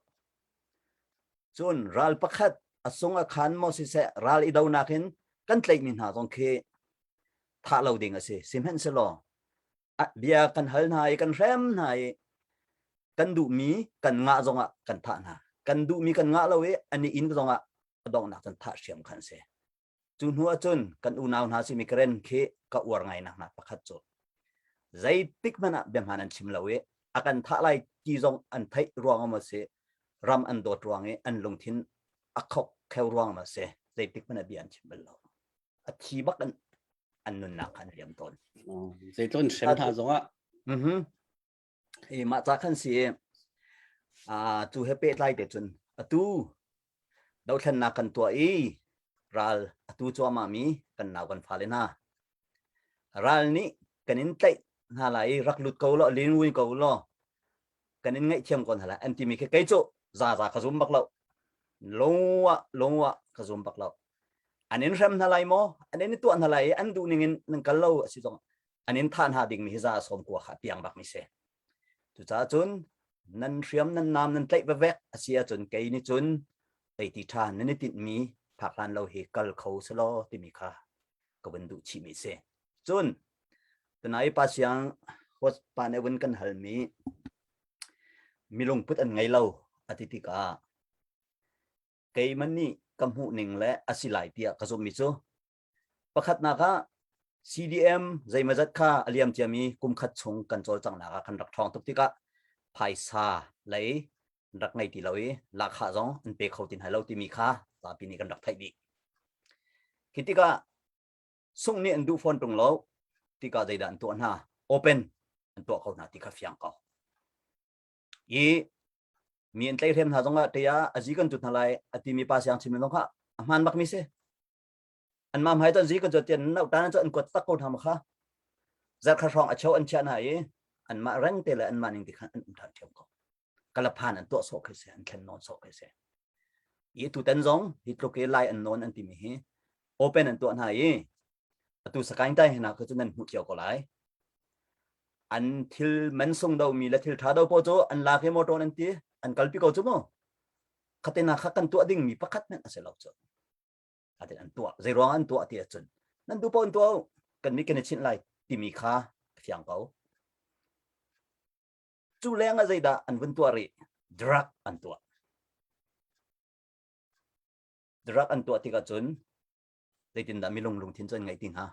Cun ral pakhat a sung a khan maw si seh ral i donak in kan tleihmi hna zong khi thah lo ding a si. Sihmanh si law bia kan hal hna i kan hrem hna i kan duhmi kan ngah zongah kan thah hna kan duhmi kan ngah lo i an i in zongah donghnak can thah hriam khan si cu hnu ahcun kan unau hna simi karen khi ka uar ngainak hna pakhat cu zeitik hmanh ah biahman an chim lo i a kan thah lai ti zong an theih ruang ma si ram an dawt ruang i an lungthin a khok kheu ruang ma si zeitik hmanh ah bia an chim bal lo a thi bak an an nunnak khan liam tawn zei tlon hrem tha zongah mhm e ma cha khan si a tu he pe tlai te chun atu do thlen na kan tua i ral atu cho ma mi kan naw kan fa le na ral ni kan in tlai na lai rak lut ko lo lin win ko lo kan in ngaihthiam ko hna la an timi khi kei cu za za ka zum bak lo longwa longwa ka zum bak lo an in hrem hna lai maw an in tuah hna lai i an duh ning in nan kal lo a si zong an in thah hna dingmi hi za sawm kua kha piang bak mi se cucaah cun nan hriam nan nam nan tlaih vevek a si ahcun kei nih cun teiti ṭhan nan i tinhmi phak hlan lo hi kal kho selo timi kha ka vun duh chih mi si cun Tanai pa siang hot pa ne gun kan hal mi mi lungput an ngei lo a ti tikah keiman nih ka hmuh ning le a si lai tiah ka zummi cu pakhatnak ah CDM zeimazat kha aliam ciami kumkhat chung kan cawlcanghnak ah kan rak ṭhawng tuk tikah phaisa lei rak ngei ti lo i lahkhah zong an pe kho ti hna lo timi kha zapi nih kan rak theih dih. Khi tikah sung nih an duh fawn tung lo ti ka zeidah an tuah hna open an tuah ko hna ti kha fiang ko i mi an tlei hrem hna zong ah te ah azi kan tut hna lai a ti mi pa siang chim zong kha a hman bak mi si an mam hai ton zi kan tian no tan cho an kuat tak ko hna ma kha zar kha hrong a cheu an chia hna i an mah reng te le an mah ning ti khan an um than thiam ko kalaphan an tuah sawh khe se an thlen nawn sawh khe se i tu tan zong hi tluk i lai an non an ti mi hi open an tuah hna i atu sakaing tai hena kha chu nan hmu cio ko lai an thil man sung do mi le thil tha do po chu an la ke motor an ti an kalpi ko chu mo khatena kha kan tuah ding mi pakhat nan ase lo chu atin an tuah zei ruang an tuah ti achun nan du pon tuau kan mi ken chin lai ti mi kha thiang ko cu leng ah zeidah an vun tuah rih drug an tuah drug an tuah tik ahcun zeitindah milung lungthin cu an ngaih ti hnga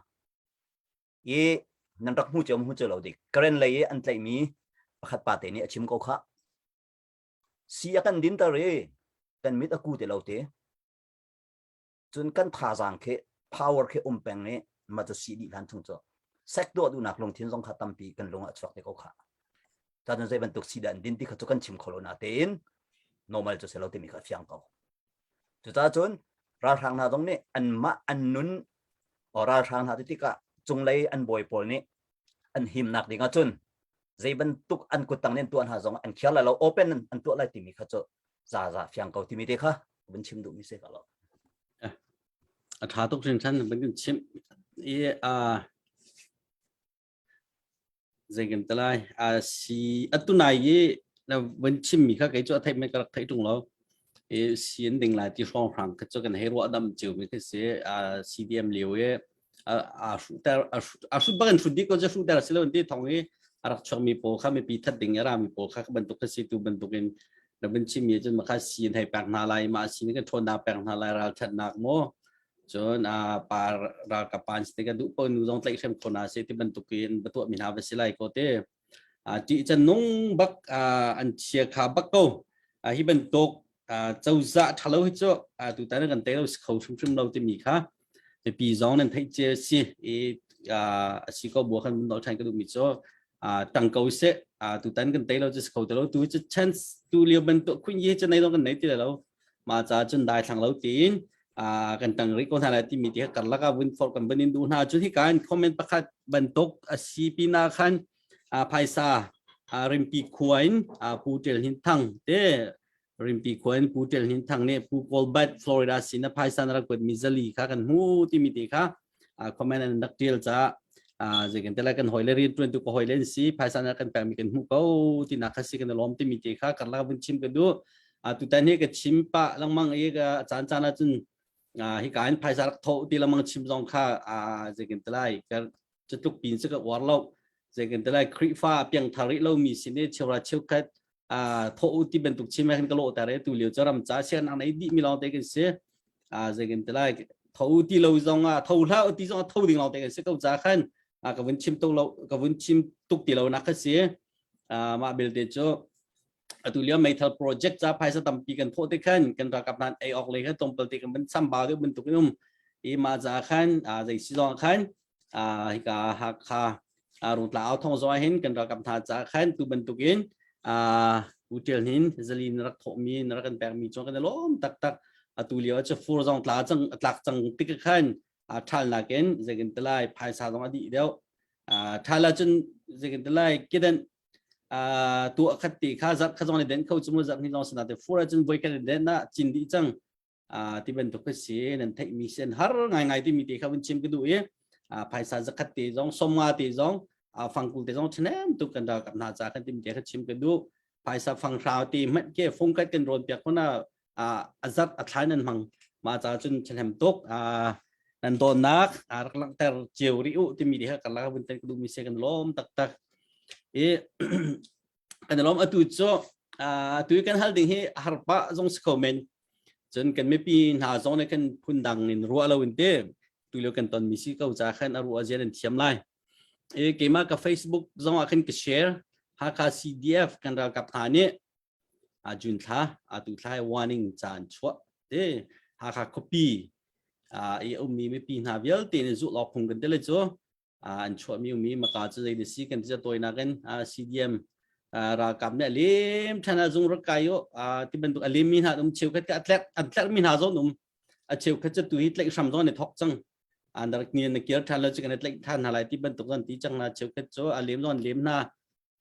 i nan rak hmu cu hmu cu lo dik karen lei i an tlaihmi pakhat pa te nih a chim ko kha si a kan dinter i kan mit a ku te lo te cun kan thazaang khi power khi um peng ni ma cu si dih hlan chung cu sek do dunak lungthin zong kha tampi kan lung ah chuak te ko kha ta nun zei bantuk si dan din ti kha chu kan chim kholo na tein normal cu selo timi kha fiang ko cuca cun ralhrang hna zong nih an mah an nun o ralhrang hna ti tikah cunglei an bawi pawl nih an himnak ding ah cun zei bantuk an kuttang nen tuan ha zong an khiar lai lo open an tuah lai timi kha cu za za fiang ko timi te kha vun chim duh mi se ka lo a tha tuk hrin chan ban chim i a zeikim talai a si atunai i la van chim mi kha kai chu thai me karak thai tung lo e sian ding lai ti hrong hrang kha chu kan hei ro dam chiu mi khi se a cdm liu e a hruter a hrut bak in hrut dik ko je hruter si lo ti thong i a rak chuak mi pawl kha mi pi that ding era mi pawl kha bantuk ka si tu bantuk in da bin chim mi cun ma kha sin hei pek hna lai ma sin ka thon na pek hna lai ral that nak mo cun a par ral ka pan si ka du ko nu zong tlai hrem khona se ti bantuk in batuwa mi hna va si lai ko te ṭih canung bak an chia kha bak ko hi bantuk cozah ṭhalo hi cu tutan kan tei lo si kho hrimhrim lo timi kha mipi zong nan theih cia si i a si ko bua kan mun ṭhan ka duhmi cu tang ko seh tutan kan tei lo cu si kho ti lo tu chance tu lio bantuk khun yi cu nei lo kan nei ti lo ma ca cun dai thlang lo tiin kan tang ri ko hna lai timi ti kar laka vun for kan ban in du hna cu hi kan comment pakhat bantuk asi pina khan phaisa rimpi khuain pu tel hin thang te rimpi khuain pu tel hin thang ne pu colbert florida sina phaisa na rakot mizali kha kan mu timi ti kha comment an rak tial ca zeikan tela kan hoi le ri tuan tu ko hoi len si phaisa na kan pekmi kan hmu ko ti na khasi kan lom ti mi te kha karla bun chim ka du a tu tan hi ka chim pa langmang e ga chan chan la chun hi kan phaisa rak tho ti lamang chim zong kha zeikan telai kar chatluk pin se ka war lo zeikan telai krifa piang thari lo mi sine chewra cheu khat thawh u ti bantuk chim kan ka lawh tar tu lio ram cha sian ang nei di mi long te kan si a zai kan te lai thawh u ti lo zong a thâu hla u ti zong a thâu ding long te kan si ko cha khan a ka vun chim to lo ka vun chim tuk ti lo nak ka si ma bil te chu atu lio meithal project cha phaisa tampi kan thawh te khan kan rakap nan ei ok le kan tompal te kan ban sambau de ban tuk num i ma za khan a zai si zong khan hika Hakha rutla authong zong hin kan rakam tha ca khan tu bantuk in hotel hin zalin rak thawhmi rak kan pekmi chung kan lawm taktak atu lio cu fur zong tla cang tlak cang tik khan thal nakin zekin talai phaisa zong adi deu thala cun zekin talai kidan tu khat ti kha zat kha zong den kho chumu zat ni long sana te fura cun voi kan den na cin di chang Ah, ti bantuk ka si nan theih mi sen har ngai ngai ti mi te kha vun chim ka du i ah, phaisa zakhat te zong somnga te zong ah, fangkul te zong chanem tu kan ra na cha kan tim te kha chim ka du phaisa fang hrao ti mat ke fung kai kan ron piak khona ah, azat athlai nan mang ma cha chun chanem tuk ah, nan don nak arak lang ter chiu ri u ti mi te kha kala vun ten ka du mi se kan lom tak tak i kan lom atu cu tu kan hal ding hi harpa zong si kho men cun kan mipi hna zong ne kan phundang in ruah lo in te tu leo kan ton mi si ko ca khan a ruah zian an thiam lai e keima ka facebook zong ah khan ka share Hakha CDF kan ralkap hna ni a jun thla a tu thla warning chan chua te Hakha copy a i um mi mi pi hna vialte ni zu lo phung kan tele chu Ah, an chuahmi umi maka cu zei na si kan ti tawinak in ah CDM ah ralkap nih lim than ah zung rak kai u ah ti bantuk alim mi hna um cheu khat ka atlek atlek mi hna zon um a cheu khat cha tu hi tlek hram zon ne thok chang an rak ni na kir than lo chu kan atlek than hna lai ti bantuk zon ti chang na cheu khat chu alim zon lim na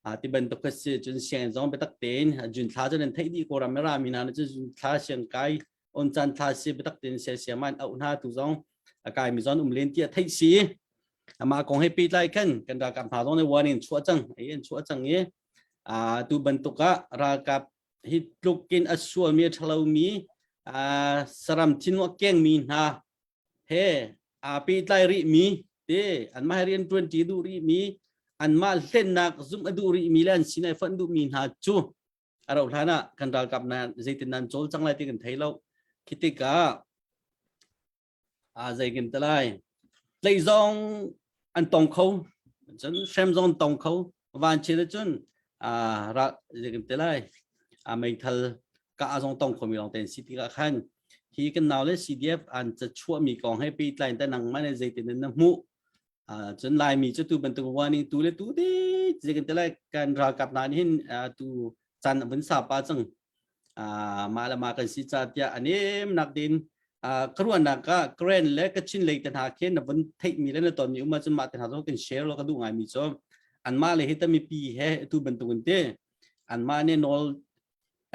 a ti bantuk kha si cun siang zong biatak tein jun thla cun an theih di ko ram ra mi na cun thla siang kai on chan thla si biatak tein se sia man au na tu zong akai mi zon um len ti theih si ama kong he pi lai kan kan ra ka ma zong ne warning chua chang ai en chua chang ye a tu bantuk a ra ka hi tlukin asua mi thalo mi a saram thinwa keng mi na he aa pehtlai rihmi te anmah rian ṭuanṭi duh rihmi anmah hlennak zumh a duh rihmi le an sin ai fonh duhmi hna cu a rauh hlan ah kan ralkap nan zeitin nan cawlcang lai ti kan thei lo khi tikah aa zei kan te lai tleih zong an tong kho cun hrem zong tong kho van chin cun ra zingim te lai a meithal ka azong tong khomi lawng ten si tikah khan hi kan nau le CDF an ca chuah mi kong he pe tlai ta nang ma ne zeitin na mu cun laimi cu tu bantuk warning tu le tu te zekin te lai kan ralkap na hin tu chan a vun sa pa cang mah le mah kan si ca tiah a nemnak din ka ruahnak ka Grand le Kachin lei te hna khe na vun theihmi le na tonmi uma cu mah te hna zo kan share lo ka duh ngaimi cu anmah le hi tami pi he tu bantukin te anmah ne nawl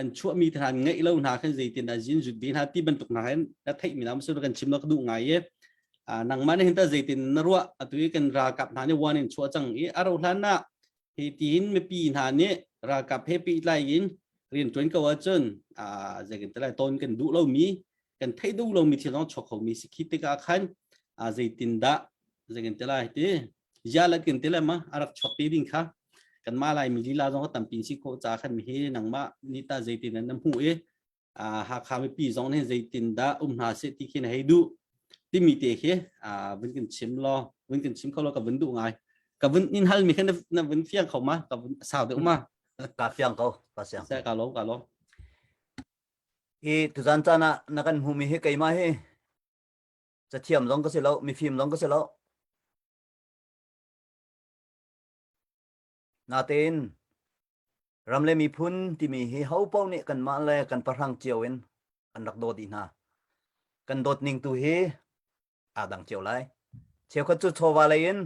an chuahmi te hna ngeih lo hna khan zeitin a zin zut din ha ti bantuk hna hen na theihmi na su kan chim lo ka duh ngai ye nangmah ne hinta zeitin na ruah atu kan ralkap hna ne warning chuah cang i aro hlan na hitin mipi hna nih ralkap he pehtlai in rian tuan ko ahcun zeikan talai ton kan duh lomi kan thei duh lomi thil zong chok khomi si khi tikah khan zeitindah zeikan talai ti zialat kan tilai ma arak chok te ding kha kan ma lai mi lila zong ka tampi si ko cha khan mi hi nangmah ni ta zeitin nan hmu i Hakha mipi zong nih zeitindah um hna seh ti khi na hei duh timi te khi vun kan chim law vun kan chim kho law ka vun duh ngai ka vun in hal mi kha na vun fiang kho ma ka vun sau deuh ma ka fiang ko ka siang ka lom ka lom hi tuzan cana na kan hmu mi hi keima hi cathiam zong ka si lo mifim zong ka si lo Natein ram le miphun timi hi hopo nih kanmah le kan pahrang cio in an rak dawt i hna. Kan dawt ning tu hi aa dang cio lai. Cheukhat cu chawva lei in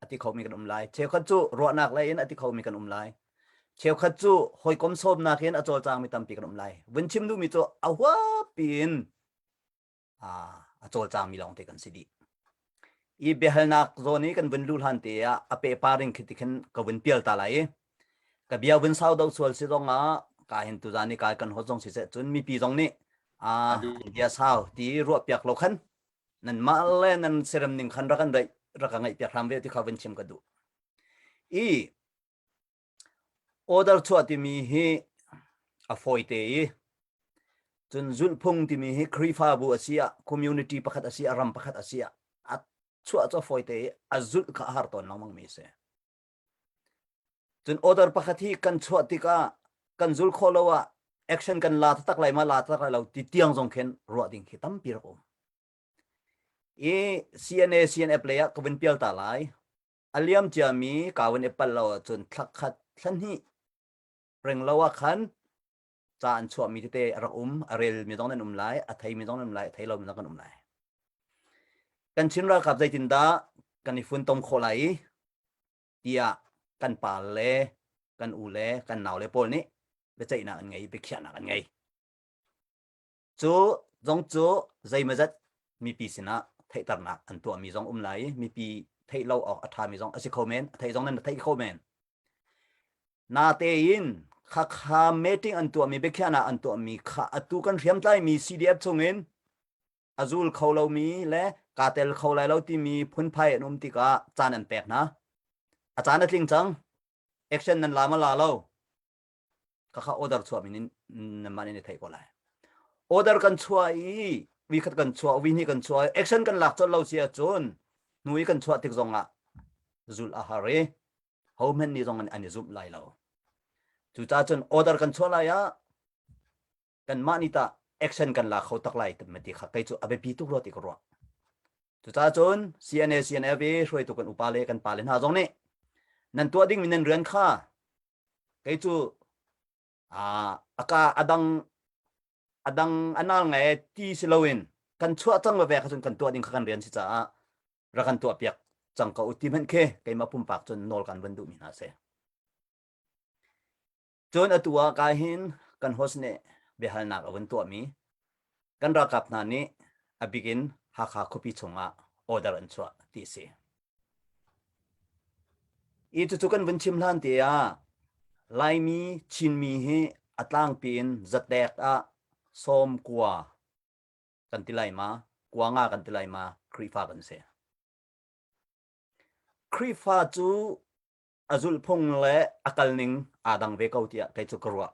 a ti khomi kan um lai. Cheukhat cu ruahnak lei in a ti khomi kan um lai. Cheukhat cu hawikom sawmnak in a cawlcangmi tampi kan um lai. Vun chim duhmi cu a huapi in a cawlcangmi lawng te kan si dih. I biahalnak zawn i kan vun lu hlan te ah a pepa ring khi tikhin ka vun pial ta lai i ka bia vun sau do sual si zong ah ka hin tu zan i kai kan hot zong si se cun mipi zong nih a bia sau ti ruah piak lo khan nan mah le nan serem ning khan ra kan rei ra ka ngai piak hram ve ti kha vun chim ka duh i Order chuah timi hi a fawite i cun zulhphung timi hi Khrihfabu a si ah community pakhat a si ah ram pakhat a si ah a chuah cu a fawite i a zulh kha a har tawn lengmang mi a si. Cun order pakhat hi kan chuah tikah kan zul khawh lo ah action kan la tak lai ma la tak lai lo ti tiang zong khin ruah ding khi tampi rak um. I CNA CNF lei ah ka vin pial ta lai. a liam ciami kawin i pal lo ahcun thla khat thla hnih ring lo ah khan ca an chuahmi tete a rak um a rel mi zong nan um lai a thei mi zong nan um lai a thei lo mi zong kan um lai kan Chin ralkap zeitindah kan i funtom khawh lai i tiah kan pa le kan u le kan nau le pawl nih biaceihnak an ngei biakhiahnak an ngei Cu zong cu zeimazat mipi sinah theihternak an tuahmi zong um lai i mipi theih lo awk a ṭhami zong a si kho men, a theih zong nan theih kho men. Natein khakha meeting an tuahmi biakhiahna an tuahmi kha atu kan hriamtlaimi CDF chungin a zul kho lomi le kaa tel kho lai lo timi phunphai an um tikah caan an pek hna. A caan a tling cang. Action nan la ma la lo. kakha order chuahmi in namah nih theih ko lai order kan chuah i vi khat kan chuah vi hnih kan chuah action kan lak colh lo si ahcun hnu i kan chuah tik zong ah zul a har i hohman ni zong an i zumh lai lo cucahcun order kan chuah lai ah kanmah nih tah action kan la kho tak lai ma ti kha kei cu a biapi tuk rua ti ka ruah cucaah cun CNA CNF i hruaitu kan upa le kan pale hna zong nih nan tuah dingmi nan rian kha kei cu aka adang adang anal ngai ti si loin kan chuah cang veve kha cun kan tuah ding kha kan rian si caah ra kan tuah piak cang ko u ti hmanh khi keimah pumpak cun nawl kan van duhmi hna si Cun atu ah ka hin kan host nih biahalnak a vun tuahmi kan ralkap hna nih a bik in Hakha khuapi chungah order an chuah ti a si. I cucu kan vun chim hlan te ah Laimi Chinmi hi a tlangpi in zatek ah som kua kan ti lai ma kua nga kan ti lai ma Krifa kan si. Krifa cu a zulhphung le a kalning aa dang ve ko tiah kei cu ka ruah.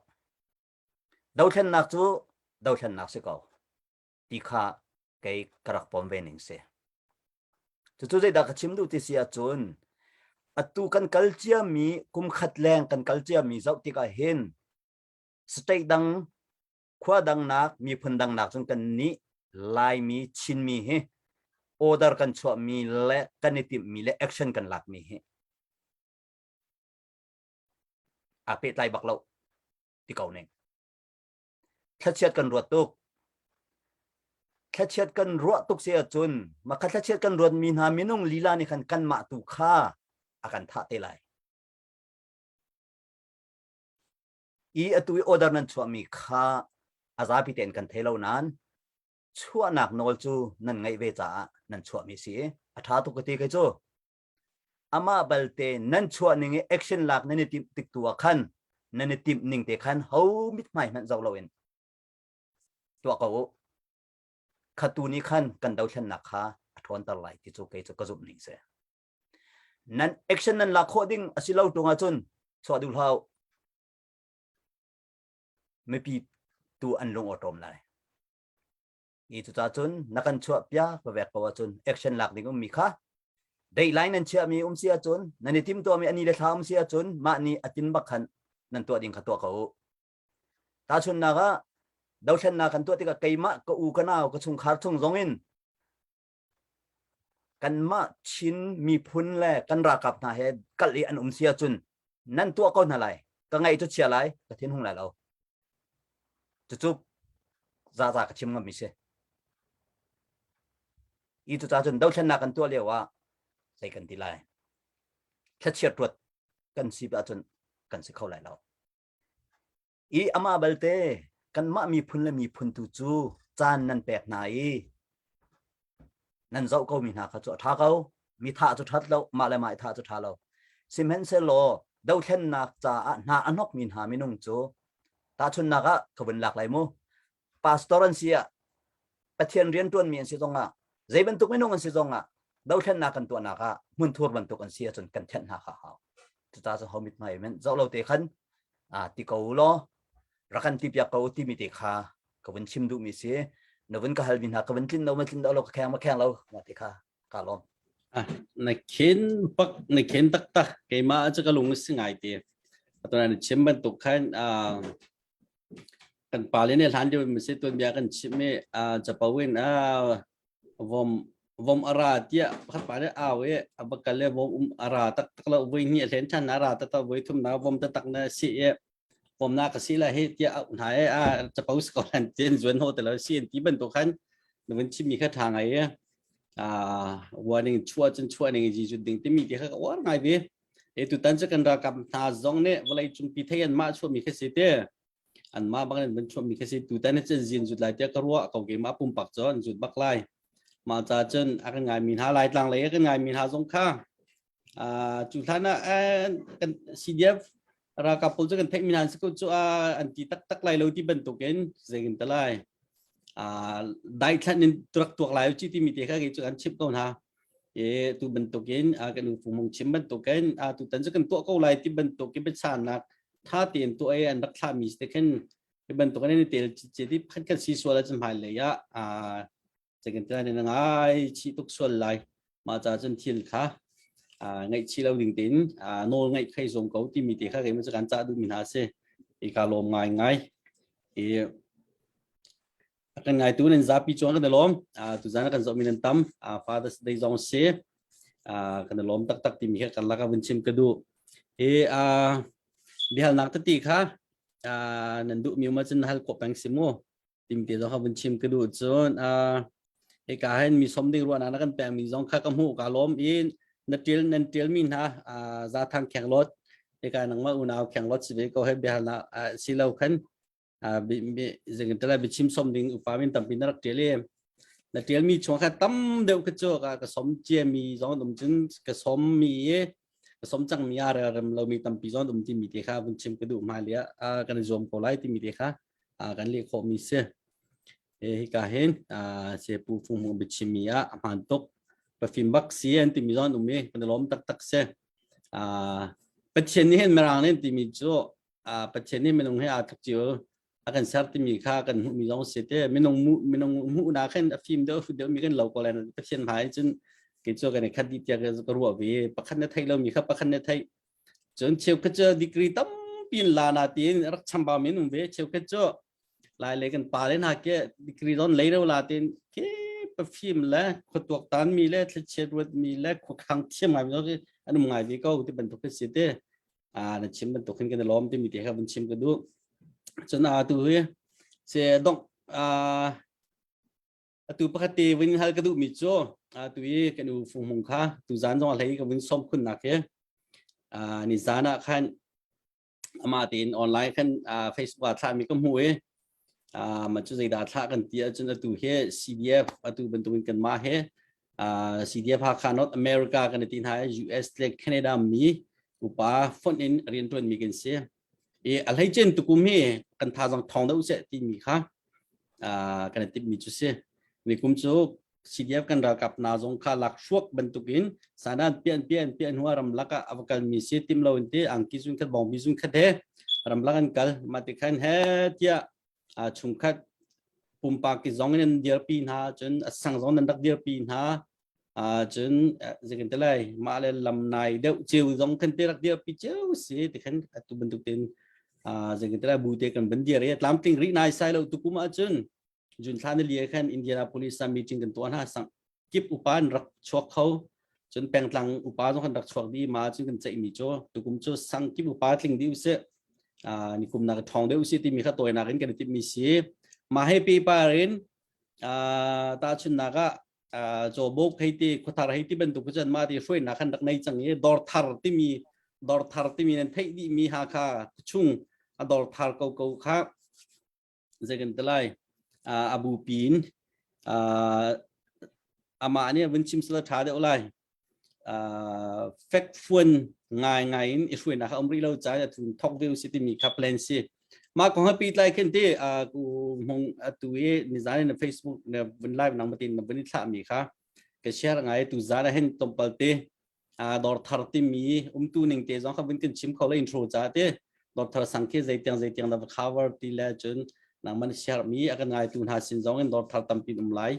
Dothlennak cu dothlennak si ko ti kha kei ka rak pom ve ning si. Cucu zeidah ka chim duh ti si ahcun atu kan kal ciami kum khat leng kan kal ciami zoh tikah hin state dang khua dangnak miphun dangnak cun kan nih laimi chinmi hi order kan chuahmi le kan i timhmi le action kan lakmi hi a pehtlai bak lo ti ko ning thlachiat kan ruat tuk thlachiat kan ruah tuk se ahcun maka thlachiat kan ruatmi hna minung lila nih khan kan mah tu kha a kan thah te lai i atu i order nan chuahmi kha a zapi tein kan thei lo nain chuahnak nawl cu nan ngaih ve caah nan chuahmi si i a ṭha tuk ka ti kai cu amah balte nan chuah ning i action lak nan i timh tik tu ah khan nan i timh ning te khan ho mit hmai hmanh zoh loin tuah ko u khatu ni khan kan dothlennak kha a ṭhawnter lai ti cu kei cu ka zumh ning si nan action nan lak khawh ding a si lo tung ahcun chuah duh hlau mipi tu an lung awṭawm lai i cucah cun na kan chuah piak va vek ko ahcun action lak ding ummi kha dateline nan chiahmi um si ahcun nan i timtuami ani le thla um si ahcun mah nih a tin bak khan nan tuah ding kha tuah ko tahchunnak ah dothlennak kan tuah tikah keimah ka u ka nau ka chungkhar chung zongin kanmah Chin miphun le kan ralkap hna he kal i an um si ahcun nan tuah ko hna lai ka ngaih cu chia lai ka thin hung lai lo cucu zaza ka chim ngam si i cuca cun dothlennak kan tuah lio ah zei kan ti lai thlachiat ruat kan si ahcun kan si kho lai lo i amah balte kanmah miphun le miphun tu cu caan nan pek hna i nan zoh ko mi hna kha cu a ṭha ko mi thah cu ṭhat lo mah le mah i thah cu ṭha lo sihmanhsehlaw dothlennak caah hna a hnawk mi hna minung cu tahchunnak ah ka vun lak lai mu pastor an si ah pathian rian tuanmi an si zongah zei bantuk minung an si zongah dothlennak kan tuahnak ah hmun thur bantuk an si ahcun kan thenh hna kha hau cuta cu homit hmai men zoh lo te khan a ti ko law rakan ti piak ko timi te kha ka vun chim duh mi si na vun ka hal mi hna ka vun tlin lo ma tlin lo lo ka kheng ma kheng lo ma ti kha ka lom na khin pak na khin tak tak keima chu ka lung singai ti atona na chim bantuk khan kan pale ne hlan deuh mi se tuan bia kan chim mi chapo in vom vom ara tia khat pa ne aw e abakal le vom um ara tak tak lo voi ni len than ara ta ta voi thum na vom ta tak na si e vom na ka si la he tia au na e a chapo sko lan ten zuan ho te lo si ti ban to khan nu mun chim mi kha tha ngai e a warning chua chun chua ning ji ju ding ti mi ti kha war ngai bi E tutan cu kan ralkap hna zong nih vawlei cungpi thei anmah chuahmi khi si te anmah bang in van chuahmi khi si tutan hi cun zin zut lai tiah ka ruah ko ke mah pumpak cu an zut bak lai mah ca cun a kan ngaimi hna lai tlang lei a kan ngaimi hna zong kha cu hlan ah kan CDF ralkap pawl cu kan theihmi nan si ko cu ah an ti taktak lai lo ti bantukin zeikin ta lai daithlan in turak tuak lai ci timi te kha cu kan chimh ko hna e tu bantukin kan in fumung chim bantukin tu tan cu kan tuah ko lai ti bantukin biasanak tha tein tu ai an rak thlahmi te khin hi bantukin ni tel ci ti phan kan si sual a chimhai le ya second time na ngai chi tuk sual lai ma cha cun thil kha ngaih chi lo ding tin nawl ngaih khai som ko ti mi te kha kei ma kan cha du mi hna se i ka lom ngai ngai i kan ngai tu nan zapi chuan kan lom tu zana kan zo min an tam fathers day zong se kan lom tak tak ti mi kha kan laka vun chim ka du hi bihal nak ta ti kha nan du mi ma cun hal ko pang simu pimpi zong kha vun chim ka duh cun uh, hika hen mi som ding ruahnak na kan pe mi zong kha ka hmu ka lom in na til nan til mi hna uh, za thang kheng lot hika nang ma unau kheng lot si ve ko he bihar na si lo khan zing tala bi chim som ding upa min tampi na rak til na til mi chuang kha tam deuh ka cho ka ka som chia mi zong dum cun ka som mi ka som chang mi ar rem lo mi tampi zong dum ti mi te kha vun chim ka du ma lia kan zom ko lai ti mi te kha kan leh khawh mi si hika hin sepu fung hmung biachimi ah a hmaan tuk pafim bak si an timi zon um i kan lawm taktak si pathian nih hin mirang nih timi cu pathian nih minung he aa thuk chiu a kan ser timi kha kan hmuh mi zong si te minung minung hmuh na khin a fim deuh fu deuh mi kan lo ko len pathian hmai cun ke cho kan khat di tia ka ruah ve pakhat na thei lo mi kha pakhat na thei cun cheukhat cu degree tampi in la na tein rak chambau men um ve cheukhat cu lai le kan pa le na ke degree don lei ro la tein ke perfume le khuatuak tan mi le thlichiat ruat mi le khukhang thiam ngai mi ko an um ngai ve ko ti bantuk ka si te a na chim bantuk hin kan lom ti mi te kha ban chim ka du cun a tu hi se dok a atu pakhat te vin hal ka duh mi cu atu i kan u fung mung kha tu zan zong hlei ka vin som khun nak he ni zan ah khan ama tein online khan facebook ah thla mi ka hmu i man cu zeidah thla kan ti ahcun atu he CDF atu bantukin kan ma he CDF ha khan North America kan ti hna US le Canada mi upa font in rian tuan mi kan si i a hleicein tukum hi kan tha zong thawng deuh seh timi kha kan i timmi cu si nikum cu CDF kan ralkap hna zong kha lak hruak bantukin sanan pian pian pian hua ram laka a kalmi si tim lo in ti angki zun khat bongbi zun khat he ram lak an kal ma ti khan he tia a chungkhat pumpak ki zong in dirpi hna cun a sang zong nan rak dirpi hna a cun zikin telai mah le lam nai deuh ceu zong kan te rak dirpi ceu si ti khan atu bantuk tin a zikin telai bu te kan ban dir ya tlam ting ri nai sai lo tukum a cun jun thla ni liya khan Indianapolis a meeting kan tuan ha sang kip upa in rak chuak kho cun pengtlang upa zong kan rak chuak di ma cun kan ceih mi cu tukum cu sang kip upa tling di usih ni kum nak thong de usi ti mi kha toinak in kan tip mi si ma he pi par in ta chun nak a chobok heiti khuthar heiti bantuk cun ma ti hroi na khan rak nei chang i dor thar ti mi dor thar ti mi nan thei di mi ha kha chung a dor thar ko ko kha zei kan ti lai a bupi in amah nih vun chim sala ṭha deuh lai fek fuan ngai ngai in i hruainak a um rih lo caah a thun thok veu si timi kha plan si mah kong ha pi tlai khin ti ku mong atu i nizan na facebook na vun live nang matin na vun thla mi kha ka share ngai tu zan a hen tompal te dawrthar timi umtu ning te zong kha vun kan chim kho le intro cha te dawrthar sang khi zeitiang zeitiang da cover ti le cun nang man share mi akan ngai tu hna sin zong in dawrthar tampin um lai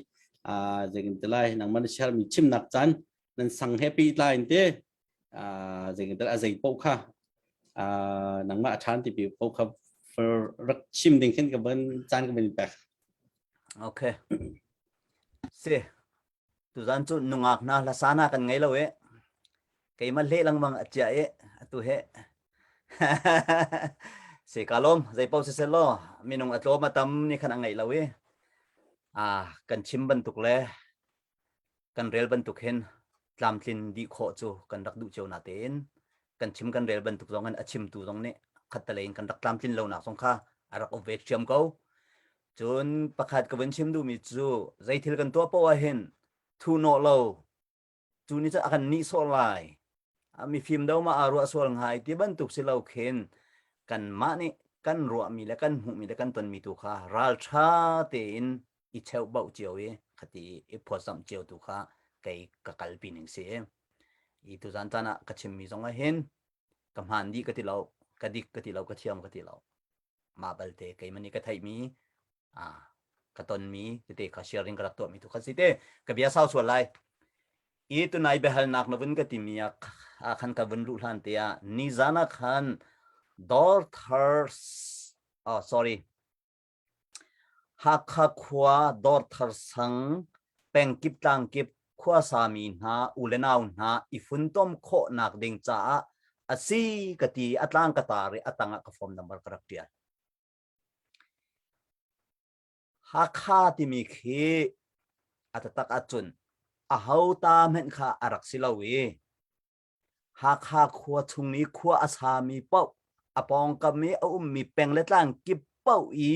a zegin te lai nang man share mi chim nak chan nan sang he pi tlai te a zegin te azai po kha a nang ma than ti pi po kha rak chim ding khin ka ban chan ka ban pek okay si Tuzan cu nungak hna hlasana kan ngei lo e. Keimah le langmang acia e atu he. Se ka lom zei pau se selo minung atlom atam ni khan angei lo i a kan chim bantuk le kan rel bantuk hin tlamtlin di kho cu kan rak duh cio na tein kan chim kan rel bantuk zong in a chimtu zong nih khattale in kan rak tlamtlin lo nak zong kha a rak ove thiam ko Cun pakhat ka vun chim duhmi cu zeithil kan tuah poh ah hin thu nawh lo cu ni cu a kan nih sawh lai. A mifim do ma aa ruah sual ngai ti bantuk si lo khin kanmah nih kan ruahmi le kan hmuhmi le kan tonmi tu kha ralṭha tein i cheuhbauh cio i khati i phawtzamh cio tu kha kei ka kalpi ning si. I tuzan tan ah ka chimmi zong ah hin ka hmaan dih ka ti lo, ka dik ka ti lo, ka thiam ka ti lo. Mah balte keimah nih ka theihmi ah ka tonmi tete kha sharing ka rak tuahmi tu kha si te ka bia sau sual lai i tunai biahalnak na vun ka timi ah ah khan ka vun luh hlan te ah nizan ah khan Dorthars oh sorry Hakha khua Dorthar sang pengkip tlangkip khuasami hna u le nau hna i funtom khawhnak ding caah a si ka ti a tlang ka tar i a tangah ka form number ka rak ṭial Hakha timi khi a tatak ahcun a ho ta hmenh kha a rak si lo i Hakha khua chung i khua a sami paoh a pawngkam i a ummi peng le tlang kip paoh i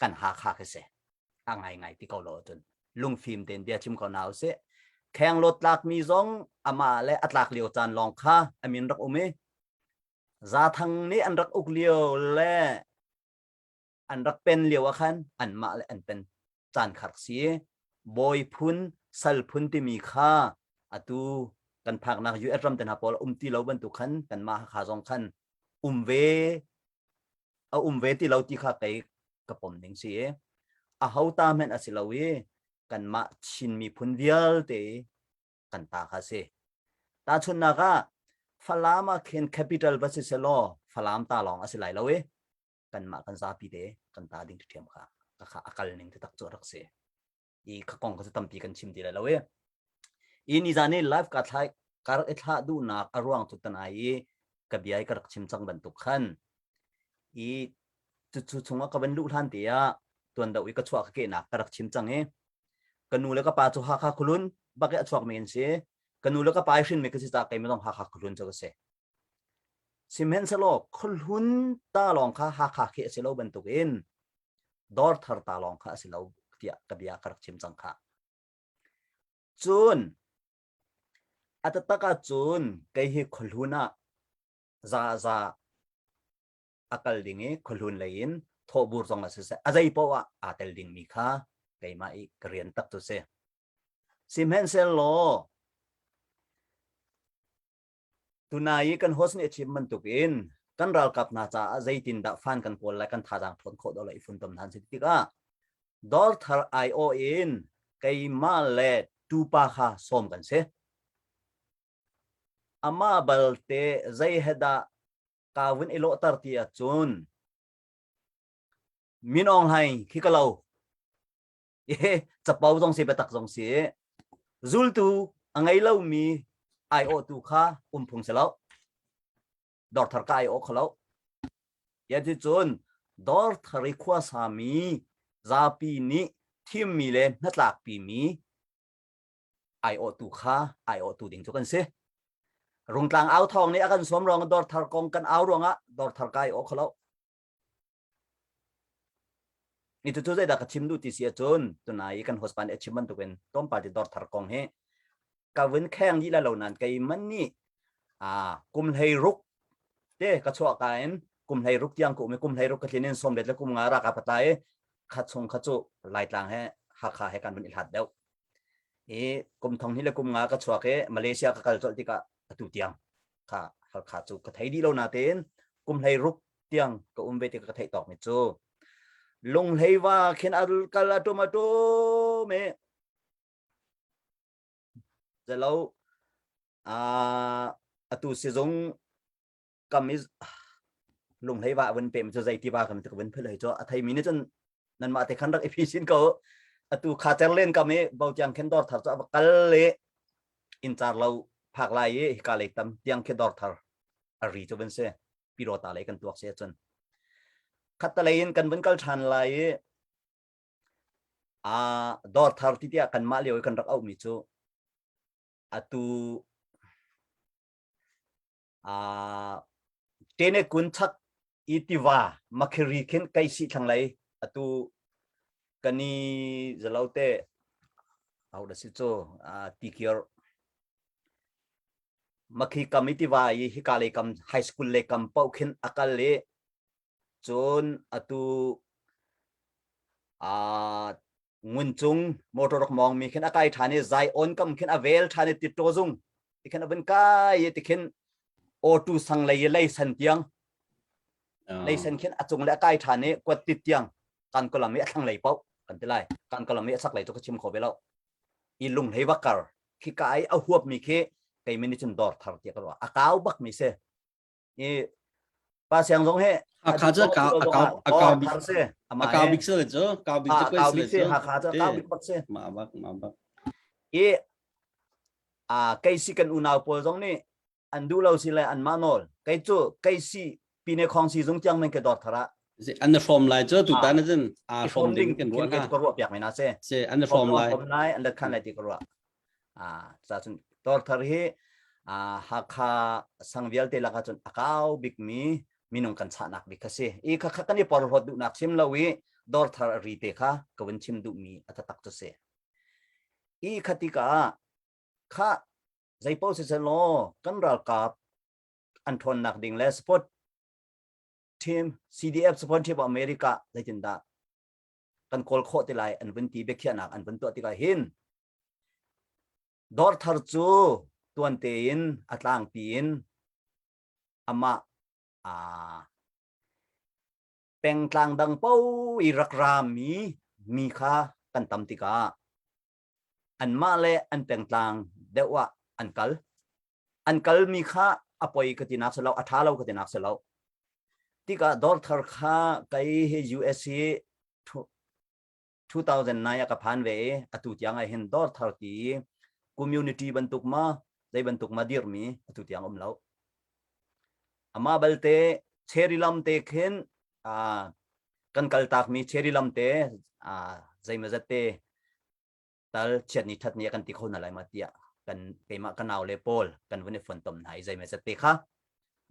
kan Hakha khi si a ngai ngai ti ko lo cun lungfim tein bia chim ko hna u sih khengloot tlakmi zong amah le a tlak lio caan lawng kha amin rak um i zathang nih an rak uk lio le an rak pen lio ah khan anmah le an pen caan kha rak si. Bawi phun, sal phun timi kha atu kan phaknak US ram te hna pawl um ti lo bantuk khan kanmah kha zong khan um ve a um ve ti lo ti kha kei ka pom ding si a ho ta men a si lo i kanmah Chin miphun vialte kan ta kha si ta chunnak ah Falam ah khin capital va si se law Falam ta lawng a si lai lo i kanmah kan zapi te kan ta ding ṭhiam kha ka kha a kal ning taktak cu rak si i kha kong kha cu tampi kan chim ti lai lo i i nizan i live ka thlai ka rak i thlah duhnak a ruang cu tan ai i ka bia i ka rak chim cang bantuk khan i cucu chung ka van luh hlan te ah tuan do i ka chuak ke nak ka rak chim cang i ka nu le ka pa cu hakha khulun bak i a chuak men si ka nu le ka pa i hrin me ka si ta kai ma zong hakha khulun cu ka si Sihmanhsehlaw khuahlun ta lawng kha Hakha khi a si lo bantukin Dawrthar ta lawng kha a si lo tiah ka bia ka rak chim cang kha. Cun a tatak ah cun kei hi khuahlun ah zaza a kal ding i khuahlun lei in thawhbur zong a si seh a zei paoh ah aa tel dingmi kha keimah i ka rian tak cu si. Sihmanhsehlaw Tunai i kan host nih a chim bantuk in kan ralkap hna caah zeitindah fan kan kawl lai kan thazaang thawn khawh dawh lo i funtom hna an si tikah Dawr thar ai-awh in keimah le tupa kha sawm kan si. Amah balte zei he dah kaa vun i lawhter ti ahcun min aung hlaing khi ka lo i capo zong si biatak zong si zultu a ngei lomi aiawh tu kha um phung si lo dor thar ka aiawh kho lo yati cun dor thari khua sami zapi nih thimmi le hnatlakpi mi aiawh tu kha aiawh tu ding cu kan si rungtlang au thawng nih a kan sawm ruang dor thar kong kan au ruangah dor thar ka aiawh kho lo Ni tu zeidah ka chim duh ti si ahcun tunai i kan husband a chim bantukin tlawmpal ti dawrthar kong hi ka vun kheng dih la lo nain kei man nih aa kum hlei ruk te ka chuah ka in kum hlei ruk tiang ka um i kum hlei ruk ka tlin in sawmlet le kum nga rak a patlai i kha chung kha cu laitlang he hakha he kan vun i hlat deuh i kum thong hnih le kum nga ka chuak i malaysia ka kal colh tikah atu tiang kha halkha cu ka thei dih lo natein kum hlei ruk tiang ka um ve ti ka theih tawk mi cu lunghleiwa khin arul kal atum atum e zalo a atu sizung kam is lunghleiwa vun pe mi chu zeitiva kam ti vun philai cho athai mi ni chan nan ma te khan rak efficient ko atu kha cher len kam e bau tiang khen dor thar cho abakal le in char lo phak lai e hika le tam tiang khe dor thar ari cho ben se pirota lei kan tuak si ahcun khattalei in kan vun kal ṭhan lai i a dor thar ti tiah kan mah lio i kan rak auhmi cu atu a tene kun chak i tiva makhiri khin kai si thlang lei atu kani zalote au da si cu ti kiar Makhi kam i tiva i hika lei kam high school lei kam paoh khin a kal i cun atu uh, ngun cung motor rak mong mi khin a kai ṭhan i Zion kam khin a vel ṭhan i titṭaw zung ti khin a vun kai ti khin auto sang lei i leisan tiang leisan khin a cung le a kai ṭhan i kuat tit tiang kan kolam i a thlang lei pauh kan ti lai kan kolam i a sak lei chu ka chim kho ve lo i lung hlei va kar khi ka ai a huap mi khi kei min cun dor thar tia ka ruah a kau bak mi se i pa siang zong he hakha cu akau akau akau bik akau bik se chu kau bik chu koi se chu hakha cu akau bik bak se ma bak ma bak i a kei si kan unau pawl zong nih an duh lo si le anmah nawl kei cu kei si pine khong si zung tiang men ke dor thara an hrom lai cu tu tan jin a hrom ding kan ruwa ka ruwa piak mena se se an hrom lai hrom lai an let khan lai ti ko ruwa a sa chun tor thar hi a hakha sang vial te laka chun akau bik mi minung kan cha nak bik ka si i kha kha kan i por hot du nak sim lo i dor thar ri te kha kawin chim du mi atatak to se i khatika khah zeipaoh si sen law kan ralkap an ṭhawnnak ding le support team CDF support team of America zeitin dah kan kawl khawh ti lai an vun ti biakhiahnak an vun tuah tikah hin dor thar cu tuan tein a tlang tiin ama a pengtlang dang po i rak ra mi mi kha kan tam tikah anmah le an pengtlang deuh ah an kal an kalmi kha a poi ka tinak si lo a ṭha lo ka tinak si lo tikah dawrthar kha kei hi US hi 2009 a ka phan ve i atu tiang ah hin dawrthar ti community bantuk ma zei bantuk ma dirmi atu tiang um lo amah balte cherilam te khin uh, kan kal tak mi cheri lam te uh, zeima zat te tal chiat ni that ni kan ti kho na lai ma tia kan tema kanau le pol kan vune phon tom nai zeima zat te kha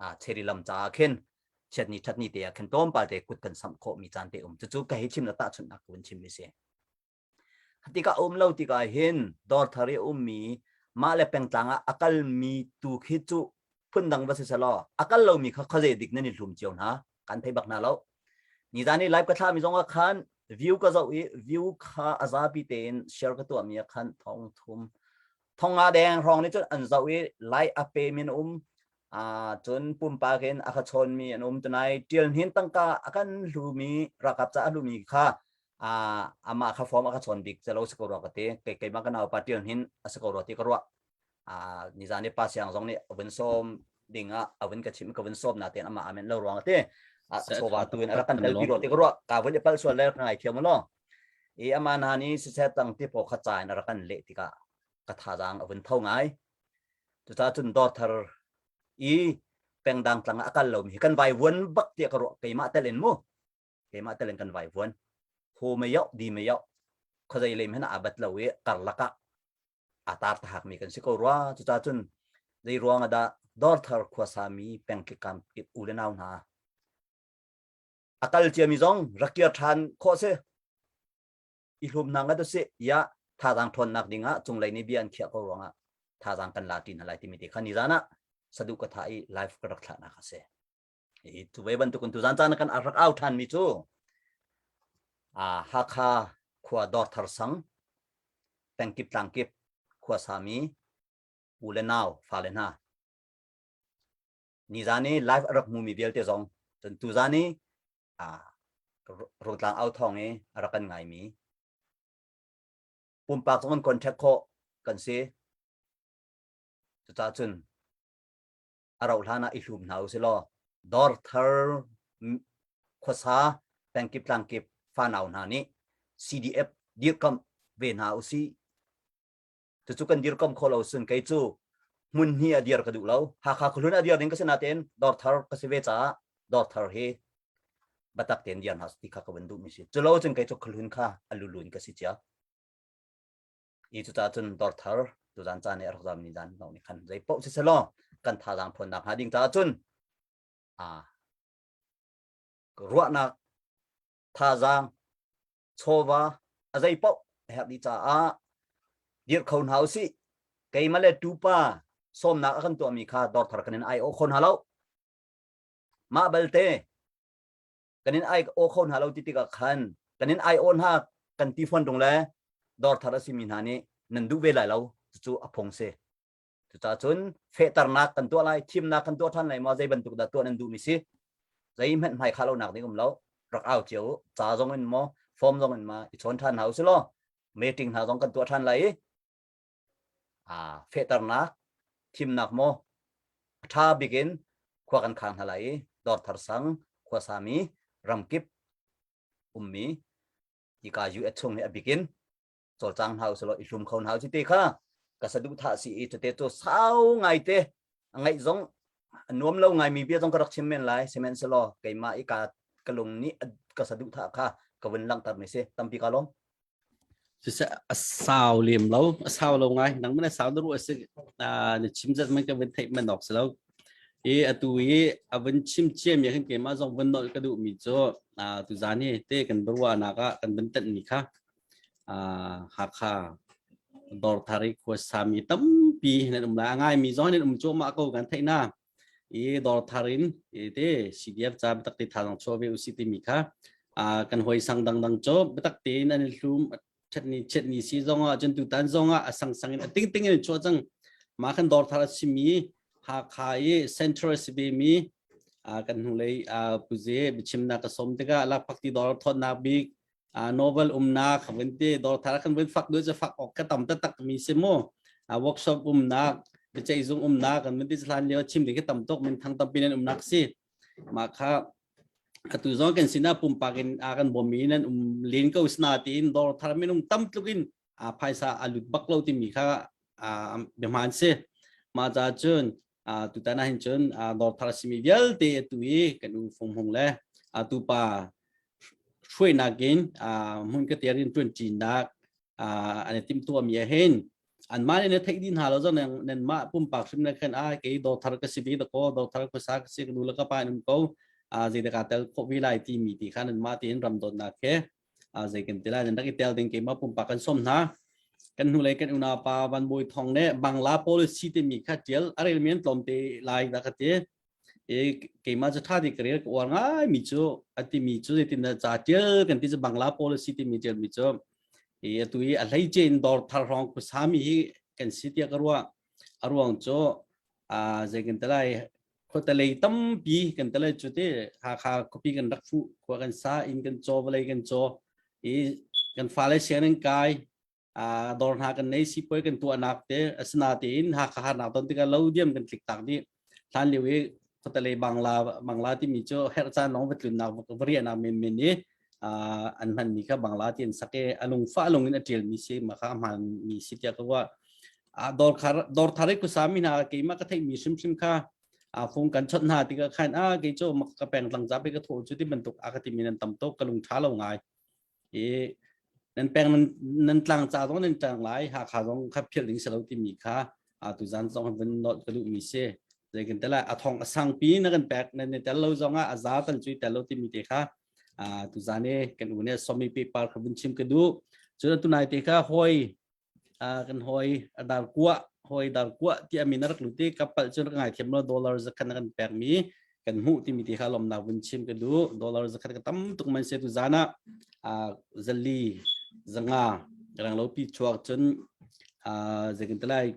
uh, cheri lam cha khen chiat ni that ni te khen tom pa te kut kan sam kho mi chan te um chu chu ka hi chim la ta chun nak kun chim mi se Khatik a um lo tikah hin Dorthar i ummi mah le pengtlang ah a kalmi tu khi cu phundang va si selaw a kal lomi kha khuazei dik nan i hlum cio hna kan thei bak hna lo nizan i live ka thlami zong ah khan view ka zoh i view kha a zapi tein share ka tuahmi ah khan thong thum thong nga deng rong nih cun an zoh i live a pe min um uh, cun pumpak in a kha chawnmi an um tunai tial hin tangka a kan hlumi rakap ca a hlumi kha a amah kha form a ka chawn bik calo si ko rua ka ti kei keimah ka nau pa tion hin a si ko rua ti ka ruah a nizan ni pa siang zong nih avun som ding a avun ka chim ka vun som na ten amah amen lo ruang ate a ko wa tu in ara kan le pi ro ti ka ruah ka vun pal sual le ka ngai thiam lo i ama na ni si se tang ti po kha cha in ara kan le ti ka ka tha jang avun tho ngai tu ta chun dor thar i pengdang tlang akal lo mi kan vai vuan bak ti ka ruah keimah tel in mu keimah telin kan vai vuan ho mei oh di mei oh khawzei lem hena abat lo i karlak ah atar tahak mi kan si ko rwa cuca cun zei ruang ada dorthar khuasa mi pengki kam u le nau hna akal cia mi zong rakiar than kho se i hlum nang ga se ya tha dang thon nak ding ah cung lei ni bian khia ko ruang ah tha dang kan la tin halai ti mi te khani zana sadu ka tha i live ka rak thla na ka se i tu ve bantukin tu zan caan kan arak au than mi cu a Hakha khua dor thar sang pengkip tlangkip khua sami u le nau fa le hna ni zan i live arak mu mi vialte zong cun tu zan i a rotlang au thong i arak kan ngai mi pumpak zong kan contact kho kan si cucah cun a rauh hlan ah i hlum hna u si law dor thar khuasa pengkip tlangkip fanau hna nih CDF dirkam ve hna u si cucu kan dirkam kho lo sun kei cu hmun hi a dir ka duh lo hakha khulun a dir ding ka si natin dor thar ka si ve caah dor thar hi batak ten diar na ti kha ka ban du mi si chulo chun kai chu khulun kha alulun ka si chia i cu cun dor thar tutan caan i a rak zammi dan no nih khan zei poh si selaw kan thazaang phuannak hnga ding caah cun a ruahnak thazaang chawva a zei poh a herh dih caah dirh kho hna usih keimah le tupa sawmnak a kan tuahmi kha dor thar kan in ai awh kho hna lo mah balte kan in ai aw kho hna lo ti tikah khan kan in ai aw hna kan ti fon tung le dor thar asimi hna nih nan duh ve lai lo cucu a phung si cucah cun fehternak kan tuah lai thimnak kan tuah ṭhan lai ma zei bantuk dah tuah nan duhmi si zei hmet hmai khalo nak ding um lo rak au cio ca zong in mo form zong in ma i chawn ṭhan hau si lo meeting hna zong kan tuah ṭhan lai i aa fehternak thimnak maw a ṭha bik in khua kan khang hna lai i dor thar sang khua sami ramkip ummi ika US chung nih a bikin cawlcang hna usih law i hlum kho hna usih te kha ka saduh tha si i cute cu sau ngai te ngaih zong nuam lo ngai mi bia zong ka rak chim men lai sihmanhsehlaw keimah i ka ka lung nih ka saduh tha kha ka vun langhter ni si tampi ka lawm cucah a sau lem lo a sau lo ngai nang man a sau na ruah si na chim zat man ka vun theih man ok si lo i atu i a vun chim ciam ya kan keima zong vun nol ka duh mi cu tu zan hi te kan barwa nak ah kan vun tan ni kha Hakha Dorthari khua sami tampi nan um la ngai mi zong nan um chu ma ko kan theina i dor thar in te CDF ca biatak ti tha dang chaw ve usi ti mi kha a kan hoi sang dang dang cho biatak tein an hlum chet ni chet ni si zong ah cun tu tan zong ah a sang sang in a ting ting in chuah cang ma kan dor thar a si mi Hakha i Central CB mi a kan hnulei a puze bichim na ka som tika lak phakti dor thon na bik a novel umnak vun ti dor thar kan vun fak du cha fak ok ka tam ta tak mi se mu a workshop umnak pichai zung umnak kan vun ti slan leo chim de ke tam tok min thang tam pinan umnak si ma kha atu zong kan sina pumpak in a kan bomi nan um lin ko sna ti in dor thar minung tam tlukin phaisa a lut bak lo timi kha biahmaan si mah ca cun tutan ah hin cun northar simi vialte tu i kan u fung hung le tu pa hruainak in hmun ka tiar in tuan cinak an i tim tuami ah hin an mah ne theih din hal zo nen mah pumpak hrim na khan a ke dothar ka si bi da ko dothar ka sa ka si ka nu la ka pa nan ko zeidaka tel kho vi lai ti mi ti khan an mah ti in ram dot na ke a zei kan te lai nan rak i tel ding keimah pumpak kan som hna kan hnu lei kan unau pa van boi thong le bangla policy te mi kha tial arel men tlom te lai da ka te e keima cha tha di career ko war ngai mi chu ati mi chu ti na cha tial kan ti bangla policy ti mi tial mi chu e tu i a hlei chen dor thar rong ku sami hi kan si tia ka ruwa aruang cho a zei kan te lai khuatalei tampi kan tale cu te hakha copy kan rak fu khua kan sa in kan chaw vale kan chaw i kan fale siang nan kai a dor hna kan nei si poi kan tuahnak te asina te in hakha harnak ton tikah lo diam kan tlik tak di hlan liu i khuatalei bangla bangla timi cu herh caan long va tlun nak va riana men men i an hmanmi kha bangla ti an sak i a lungfah lung in a ṭialmi si ma kha a hmaanmi si tiah ka ruah dawr khar dawr thar i kusami hna keimah ka theihmi hrimhrim kha phung kan chawt hna tikah khan a kei cu ka peng tlang zape ka tho cu ti bantuk a ka timi nan tam to ka lung ṭha lo ngai i nan peng nan tlang ca zong nan tlang lai hakha zong kha philh ding si lo timi kha tu zan zong van not ka duhmi si zeikin tala a thong a sang pi na kan pek nan tel lo zong a za tal cui tel lo timi te kha tuzane kan une somi paper kha vun chim ka du cun tunai te kha hoi kan hoi dar kuwa hoi dar kuwa ti amin rak luti kapal cun ngai thiam lo dollar zakhan kan pek mi kan mu ti mi te kha lom na vun chim ka du dollar zakhan ka tam tuk man se tu zana zali zanga rang lo pi chuak cun zekin talai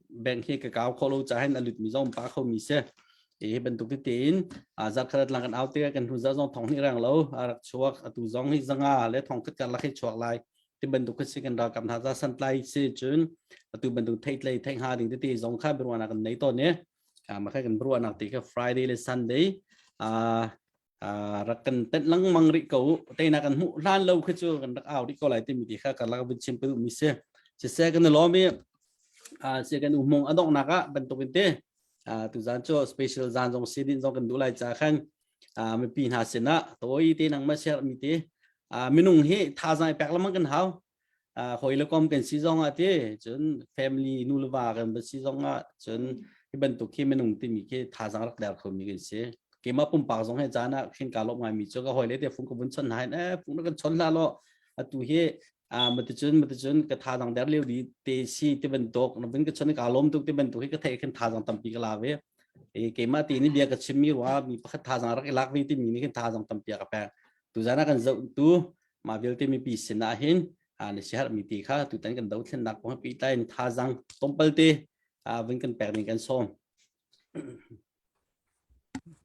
bank hi ka kaw kholo cha hen alut mi zom pa kho mi se ti bantuk te tein zakhat lang kan autte kan hnu za zong thong ni rang lo arak chuak atu zong hi zanga le thong khat kar la khai chuak lai ti bantuk kha si kan ra kam hna za san tlai si chun atu bantuk thei tlai thei ha ding te zong kha birwana kan nei to ne kama khai kan birwana ti ka friday le sunday a Ah, rak kan tet lengmang rih ko teinak kan hmuh hlan lo khi cu kan rak au rih ko lai timi ti kha kan lak bin chim pelu mi si si se kan lomi ah si kan umung adok nak ah bantuk in te ah tu zan cho special zan zong si din zong kan du lai cha khan ah mipi hna sin ah toy te nang ma ser mi te ah minung hi thazai pek lamang kan hau hawi le kom kan si zong ah te cun family nu le va kan va si zong ah cun hi bantuk khi minung timi khi thazang rak der kho mi kan si keima pumpak zong he caan ah khin ka lop ngai mi chu ka hoi le te fung ka vun chon hai eh fung na kan chon la lo atu hi a mate chun mate chun ka thazang der leu di te si te ban tok na bin ka chon ka lom tuk te ban tuk hi ka thei khin thazang tampi ka la ve e keima ti ni bia ka chim mi wa mi pakhat thazang rak ilak vi ti mi ni khin thazang tampi ka pe tu zana kan zo tu mah vialte mipi sinah hin na si harmi ti kha tutan kan dothlennak kong pi tain thazang tlawmpalte vun kan pek ning kan som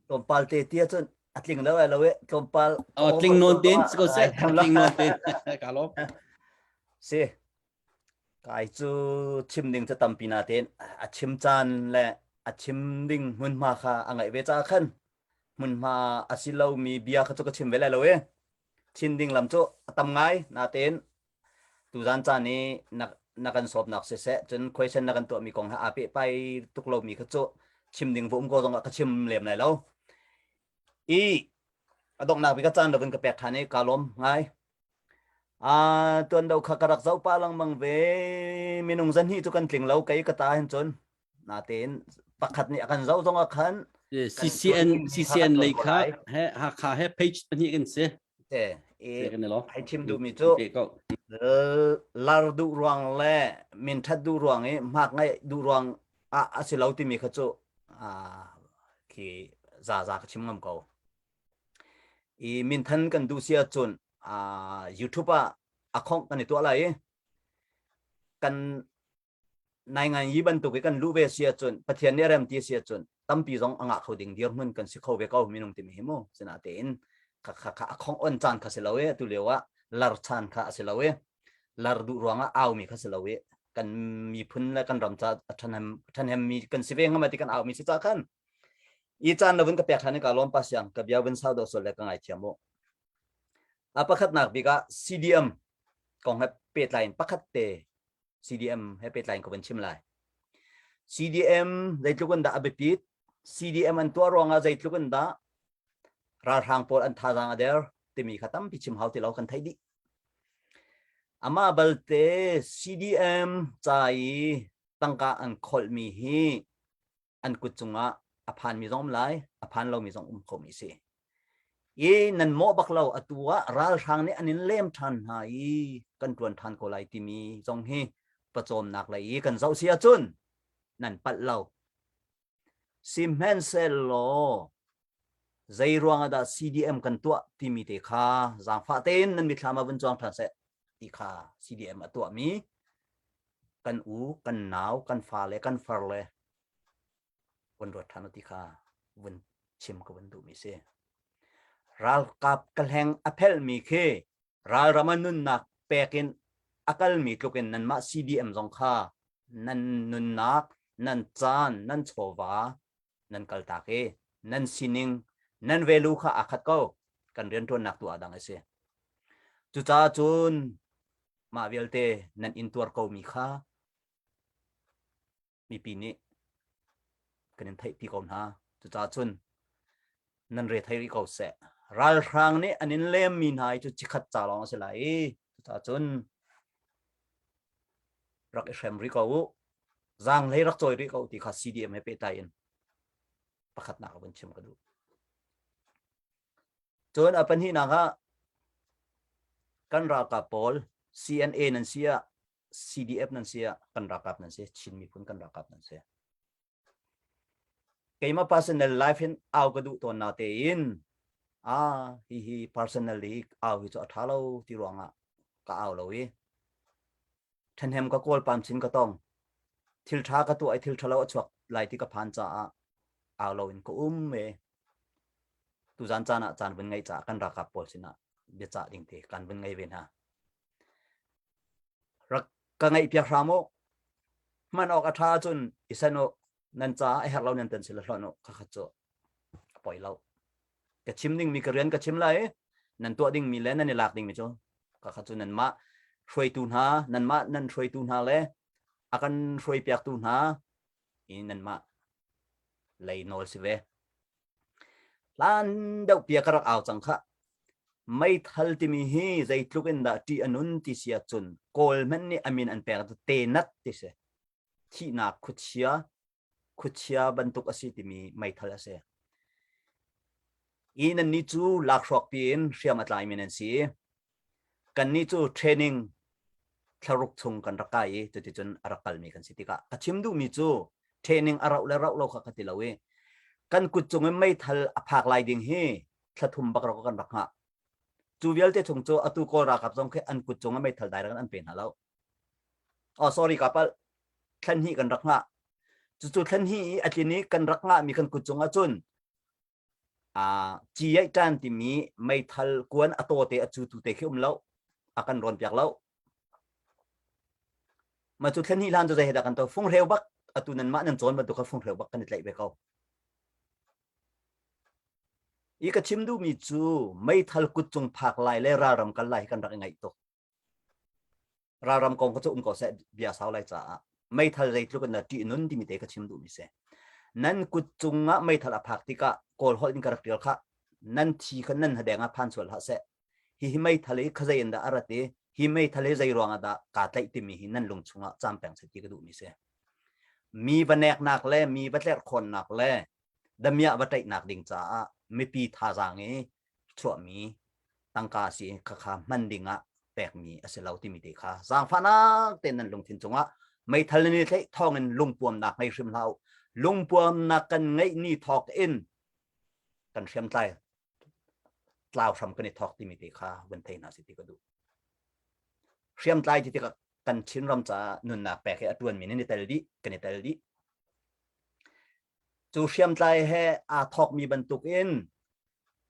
tlawmpal te tia cun atling lo ai lo e tlawmpal oh tling non tin ko se tling non tin ka lo si kai chu chim ding ta tampi na ten a chim chan le a chim ding mun ma kha a ngai ve cha khan mun ma asilo mi bia kha chu ka chim ve lai lo e Chin ding lam cu a tam ngai natein tuzan caan i na, na kan sawpnak siseh cun question na kan tuahmi kong he aa pehpai tuk lomi kha cu chim ding va um ko zongah ka chim lem lai lo. I a donghnak bik caan lokin ka pek ṭhan i kaa lawm ngai. Uh, tuan do kha ka rak zoh pah lengmang ve. Minung zan hi cu kan tling lo kei ka ta hin cun. natein pakhat nih a kan zoh zong a khan CCN CCN lei kha he Hakha he page pahnih kan si ai chim duhmi cu lar duh ruang le minthat duh ruang i hmak ngai duh ruang ah a si lo timi kha cu khi za za ka chim ngam ko i minthan kan duh sia cun YouTube ah a khongh kan i tuah lai i kan nai ngan yi bantuk i kan lu ve si ahcun pathian nih a rem ti si ahcun tampi zong a ngah kho ding dirhmun kan si kho ve ko minung timi hi mu sina tein kha kha kha a khong on caan kha si lo e tu lio ah lar caan kha a si lo e lar duh ruang ah aumi kha si lo e kan miphun le kan ram ca ṭhanem ṭhanem mi kan si ve ngam ti kan aumi si ca khan i caan lovin ka pek ṭhan ka lom pa siang ka bia bin sau do sol le ka ngai thiam u a pakhat nak bik ah CDM kong he pehtlai in pakhat te CDM he pehtlai ko van chim lai. CDM zeitluk in dah a biapit, CDM an tuah ruangah zeitluk in dah ralhrang pawl an thazang a der timi kha tampi chim hau ti lo kan theih dih. Ama balte CDM ca i tangka an kholmi hi an kut cungah a phanmi zong um lai a phan lomi zong um komi si i nan mawh bak lo atu ah ralhrang nih an in lem ṭhan hna i kan ṭuan ṭhan ko lai timi zong hi pawcawmnak lei i kan zoh si ahcun nan palh lo sihmanhsehlaw zei ruang ah dah CDM kan tuah timi te kha zaangfah tein nan mitthlam ah vun cuang ṭhan seh ti kha CDM a tuahmi kan u, kan nau, kan fa le kan far le vun ruat ṭhan u ti kha vun chim ka vun duhmi si. Ralkap kahleng a phelmi khi ralram a nunnak pek in a kalmi tluk in nanmah CDM zong kha nan nunnak, nan caan, nan chawva nan kaltak i nan sining nan value kha aa khat ko kan rianṭuannak tu ah dang a si cucaah cun mah vialte nan in tuar komi kha mipi nih kan in theih pi ko hna cucaah cun nan re thei rih ko seh ralhrang nih an in lemmi hna hi cu cikhat ca lawng a si lai i cucaah cun rak i hrem rih ko u Zaang hlei rak cawi rih ko ti kha CDM he pehtai in pakhatnak a vun chim ka duh. Cun a pahnihnak ah kan ralkap pawl CNA nan si ah CDF nan si ah kan ralkap nan si Chin miphun kan ralkap nan si keima personal life hin au ka duh ton na te in a hi hi personal hi au hi chu a tha lo ti ruangah ka au lo i ṭhahnem ka kawl pam chin ka tong thil ṭha ka tuah i thil ṭhalo a chuak lai ti ka phan caah au lo in ka um me tu zan caan ah caan vun ngai caah kan rakap pawl sinah bia cah ding te kan vun ngai ve hna rak ka ngaih piak hram o hman ok a ṭha cun i sen o nan caah a herh lo nan tan sila hlon o ka khat cu a poi lo ka chim dingmi ka rian ka chim lai i nan tuah dingmi le nan i lak dingmi cu kakhat cu nanmah hruaitu hna nanmah nan hruaitu hna le a kan hruai piaktu hna i nanmah lei nawl si ve hlan deuh pia ka rak au cang kha meithal timi hi zeitluk in dah ṭih a nun ti si ahcun kawl hmanh nih amin an pek te nat ti si thihnak khuachia khuachia bantuk a si timi meithal a si. I nannih cu lakhruak piin hriam a tlaimi nan si. Kannih cu training thlaruk chung kan rak kai i cuticun a rak kalmi kan si tikah ka chim duhmi cu training a rauh le rauh lo kha ka ti lo i kan kut cung in meithal a phak lai ding hi thlathum bak rak kan rak hngah. Cu vialte chung cu atu kawl ralkap zong khi an kut cung in meithal direct an pe hna lo. Oh sorry ka pal thlen hi kan rak ngah cucu thlen hi a tlin i kan rak ngah mi kan kut cung ahcun a ci ai tan timi meithal kuan a to te a cu tu te khi um lo a kan ron piak lo ma cu thlen hi lan cu zei dah kan to fung reu bak atu nan mah nan chon ba tu kha fung reu bak kan i tlaih ve ko i ka chim duh mi cu meithal kut cung phak lai le ralram kal lai hi kan rak i ngaih tuk ralram kong cu um ko seh bia sau lai caah meithal zeitluk in na ṭih nun timi te ka chim duhmi si nan kut cungah meithal a phak tikah kawl holh in ka rak ṭial kha nan thi kha nan hadeng ah phan sual hlah seh hihi meithal hi khazei in dah a rat i hi meithal hi zei ruangah dah kaa tlaih timi hi nan lung chungah cam peng sati ka duhmi si mi va neknak le mi va tlerkhawnnak le damiah va ṭaihnak ding caah mipi thazaang i chuahmi tangka si kha kha hman dingah pekmi a si lo timi te kha zaangfahnak tein nan lungthin cungah meithal nan i tleih thawngin lungpuamnak ngei hrim hlah u lungpuamnak kan ngeih ni thawk in kan hriamtlai tlau hram kan i thawk timi te kha vun thei na si ti ka duh hriamtlai ti tikah kan chin ram ca nunnak pek hi a tuan mi nan i tel dih kan i tel dih cu hriamtlai he aa thawkmi bantuk in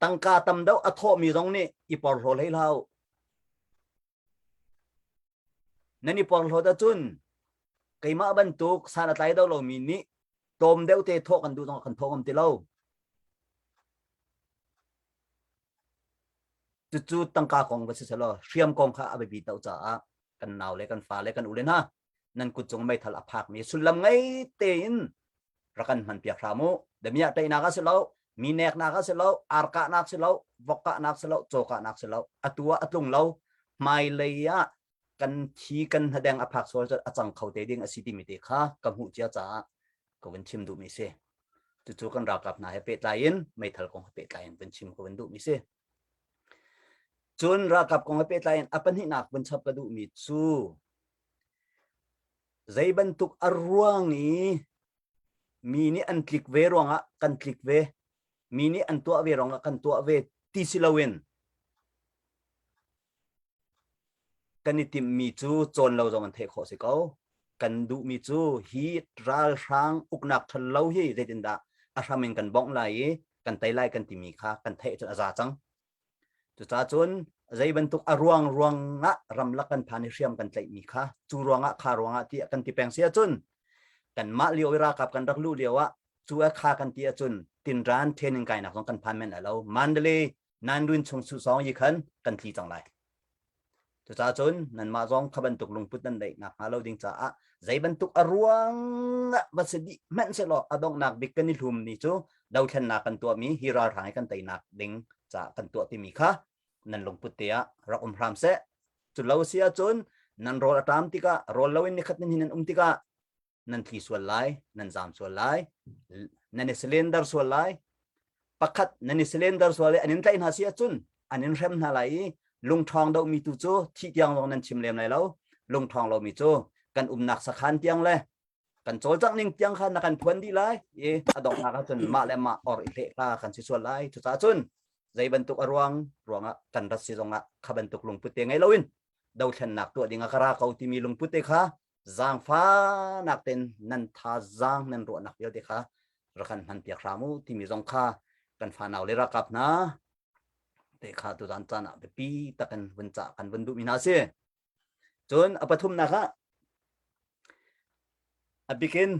tangka tam deuh a thawhmi zong nih i porhlaw hlei hlau nan i porhlawt ahcun keimah bantuk san a tlai deuh lomi nih tlawm deuh te thawh kan duh zong kan thawh ngam ti lo cucu tangka kong va si selaw hriam kong kha a biapi to caah kan nau le kan fa le kan u le hna nan kut cung meithal a phak mi sullam ngei tein rakan hman piak hram u damiah teinak a si lo mi neknak a si lo arkahnak si lo vokahnak si lo cawkahnak si lo atu ah a tlung lo hmai lei ah kan thi kan hnadeng a phak sual a cang kho te ding a si ti mi te kha ka hmuh cia caah ka vun chim duh mi si cucu kan rakap hna he pehtlai in meithal kong he pehtlai in vun chim ka vun duh mi si Cun ralkap kong he pehtlai in a pahnihnak vun chap ka duhmi cu zei bantuk a ruang i mi nih an tlik ve ruangah kan tlik ve mi nih an tuah ve ruangah kan tuah ve ti si loin kan i timhmi cu cawn lo zong an theih khawh si ko kan duhmi cu hi ralhrang uknak ṭhan lo hi zeitindah a hram in kan bongh lai i kan tei lai kan timi kha kan theih cun a za cang cucacun zei bantuk a ruang ruangah ramlak kan phan i hriam kan tlaihmi kha cu ruangah kha ruangah tiah kan ti peng si ahcun kanmah lio i rakap kan rak luh lio ah cu a kha kan ti ahcun tinran training kainak zong kan phan men lai lo mandale nan run chung su song yi khan kan tli cang lai cucaah cun nanmah zong kha bantuk lungput nan neih nak hnga lo ding caah zei bantuk a ruang ah va si dih hmanh se law a donghnak bik kan i hlum mi cu dothlennak kan tuah mi hi ralhrang i kan teinak ding caah kan tuah timi kha nan lungput te ah rak um hram se cu lo si ahcun nan rawl a tam tikah rawl lo in nikhat ni nan um tikah nan tli sual lai nan zam sual lai nan i slender sual lai pakhat nan i slender sual lai anin tlaih hna si ahcun anin hrem hna lai i lungṭhong domi tu cu thi tiang zong nan chim lem lai lo lungṭhong lomi cu kan umnak sakhan tiang le kan cawlcangh ning tiang kha na kan phuan dih lai i a donghnak ahcun mah le mah or i hleh hla kan si sual lai cucaah cun zei bantuk a ruang ruangah kan rat si zongah kha bantuk lungput te ngei loin dothlennak tuah ding a ka ra ko timi lungput te kha zaangfanak ten nan tha zaang nan ruahnak vialte kha rakan hman piak hram u timi zong kha kan fanau le rakap hna te kha tu zan caan ah biapi tak kan vun ca kan vun duhmi hna si cun a pathumnak ah abikin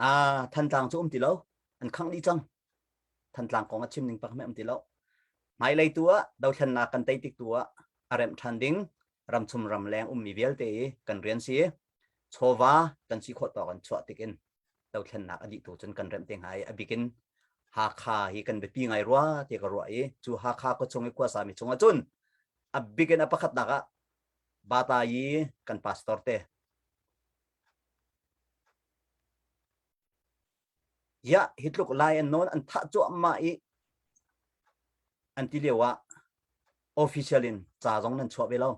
a thantlang cu um ti lo an khang dih cang thantlang kong a chim ning pak me um ti lo hmailei tu ah dothlennak kan tei tik tu ah a remh than ding ramchung ramleng ummi vialte i kan rian si i chawva kan si khawh tawk an chuah tikin dothlennak a dih tu cun kan remh te hnga i a bikin Hakha hi kan biapi ngai rua ti ka ruah i cu Hakha ko chung i kuasami chung ah cun a bikin a pakhatnak ah bata i kan pastor te Iah hi tluk lai an nawn an thah cuahmah i an ti lio ah official in ca zong nan chuah ve lo.